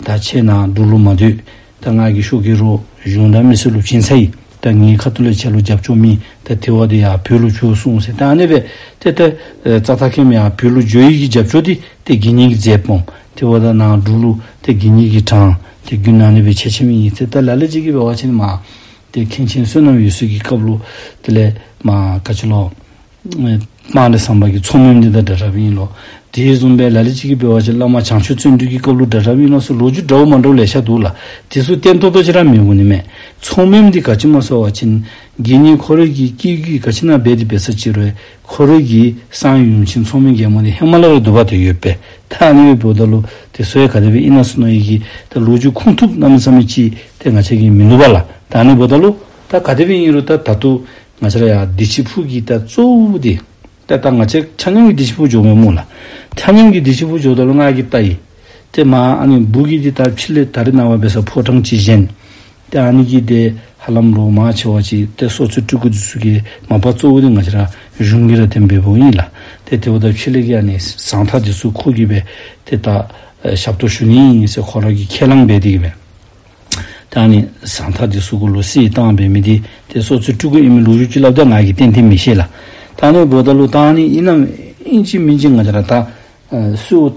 རྟ་ཆེ་ན་འདུག་ལུགས་མ་འདུས། ད་སྔགས་ཀྱི་ཤོག་གི་རུ། གཞུང་དང་མི་སེར་ལུགས་ཕྱིན་ཚེ་ཡི། ད་ངའི་ཁ་ཐུ་ལ་ཆད་ལུགས་རྒྱབ་ཕྱོགས་མི། ད་དེ་བ་དེ་ཡང་བོད་ལུགས་བྱོས་གསུངས་ཟེར་ད་ཨ་ནེ་བས། དེ་ལྟར། རྩ་ཐ་ཁེམ་ཡང་བོད་ལུགས་བྱོས་ཡི་གི་རྒྱབ་ཕྱོགས་དེ། དེ་དགེ་བསྙེན་གྱི་རྫས་སྤོང། དེ་བ་ད་ནང་འདུག་ལུགས་དེ་དགེ་བསྙེན་གྱི་གྲངས། དེ་རྒྱུན་ན་ནེ་བས་ཆད་ཆེ་མི་ཡིན་ཚེ་ད་ལ་ལས་གཅིག་གི་བའི་བ་ཆེ་ནི་མ། དེ་མཁན་ཆེན་བསོད་ནམས་ཡུལ་སྲོལ་གྱི་སྐབས་ལོ། དེ་ལས། མཀྵ་ཆུ་ལོ། སྤང་ལེ་སངས་པ་གྱི་ཚོགས་མུན་འདི་དང་འདྲ་རབ་ཡིན་ལོ། དེའི་རྩོམ་པའི་ལ་ལས་གཅིག་གིས་དཔལ་བ་ཆེ་བླ་མ་བྱང་ཆུབ་བརྩོན་འགྲུས་ཀྱི་སྐབས་ལོ་འདྲ་རབ་ཡིན་ལོ་སོགས་ལོ་རྒྱུས་འདྲ་བོ་མང་འགྲོ་བ་ལས་ཤར་འདུག་ལ། དེ་ཚོ་བསྟན་ཐོག་ཏུ་ཅི་རང་མེད་པོ་ནི་མེད། ཚོགས་མུན་འདི་ག་ཕྱི་མ་སོགས་བ་ཆེན། དགེ་བསྙེན་འཁོར་རིགས་ཀྱི་སྐྱེ་རྒྱུད་ཀྱི་ག་ཕྱི་ན་རྦད་དེ་འབད་ས་ཅི་རོལ། ཁོ་རིགས་ཀྱི་སངས་ཡུམ་ཆེན་མཚོ་མོའི་རྒྱལ་མོ་ནི་ཧི་མ་ལ་རི་དུ་བ་དུ་ཡོད་པའི་ཐ་ཨ་ནི་ཝི་བོད་ད་ལུ་ཏི་སོ་ཡ་ག་ཏི་བི་ཨི་ན་སི་ནོ་ཡི་གི་ད་ལུ་ཇུ་ཁུང་ཐུབ་ན་མི་ཚ་མི་ཅི་ཏེ་ང་ཆ་གི་མི་ལུ་བ་ལ་ད་ཨ་ནི་བོད་ད་ལུ་ད་ག་ཏི་བི་ཨི་རུ་ད་ད་ཏུ་ང་ཆ་ར་ཡ་དི་ཆི་ཕུ་གི་ད་ཙོ་ཝུ་དི་ད་ད་ང་ཆ་ཆ་སྙམ་གི་དི་ཆི་ཕུ་ཇོ་མོའི་མུ་ལ་ཆ་སྙམ་གི་དི་ཆི་ཕུ་ཇོ་ད་ལུ་ང་གི་ད་ཡི་ཏེ་མ་ཨ་ནི་བུ་གི་དི་ད་ཕྱི་ལི་ད་རི་ན་བ་བེ་ས་ཕོ་བྲང་ཅི་བཞེན་ཏེ་ཨ་ནི་ཀི་ཏའི་ཧ་ལམ་ལོ་མང་ཆེ་བ་ཅིག་ཏེ་སོ་སོའི་སྤྲུལ་སྐུ་དུས་ཚོད་ཀྱི་མ་པ་གཙོ་བོ་ཏེ་ང་ཅི་ར་གཞུང་གི་ར་དེ་འབེལ་པོ་ཡིན་ལ་ཏེ་དེ་བ་ཏ་ཁི་ལེ་ཀི་ཡ་ནི་ཟང་ཐག་དེ་ཚོའི་ཁོག་གི་བས་ཏེ་ཏ་ཞབས་ཏོ་ཞུ་ནི་ཡིན་སེ་ཁོ་ར་གི་ཁས་ལང་བས་ཏེ་གི་བས་ཏེ་ཨ་ནི་ཟང་ཐག་དེ་ཚོའི་ཁོ་ལོ་སི་ཡི་ཏང་བས་མི་ཏེ་ཏེ་སོ་སོའི་སྤྲུལ་སྐུ་ཨི་མི་ལུག་གཞུག་ཅི་ལབ་ཏེ་ང་གི་ཏན་ཏིན་མི་ཤེས་ལ་ཏེ་ཨ་ནི་བོ་ཏ་ལུག་ཏ་ཨ་ནི་ཨི་ནམ་ཨིན་ཅི་མིན་ཅི་ང་ཅི་ར་ཏ་སུའུ།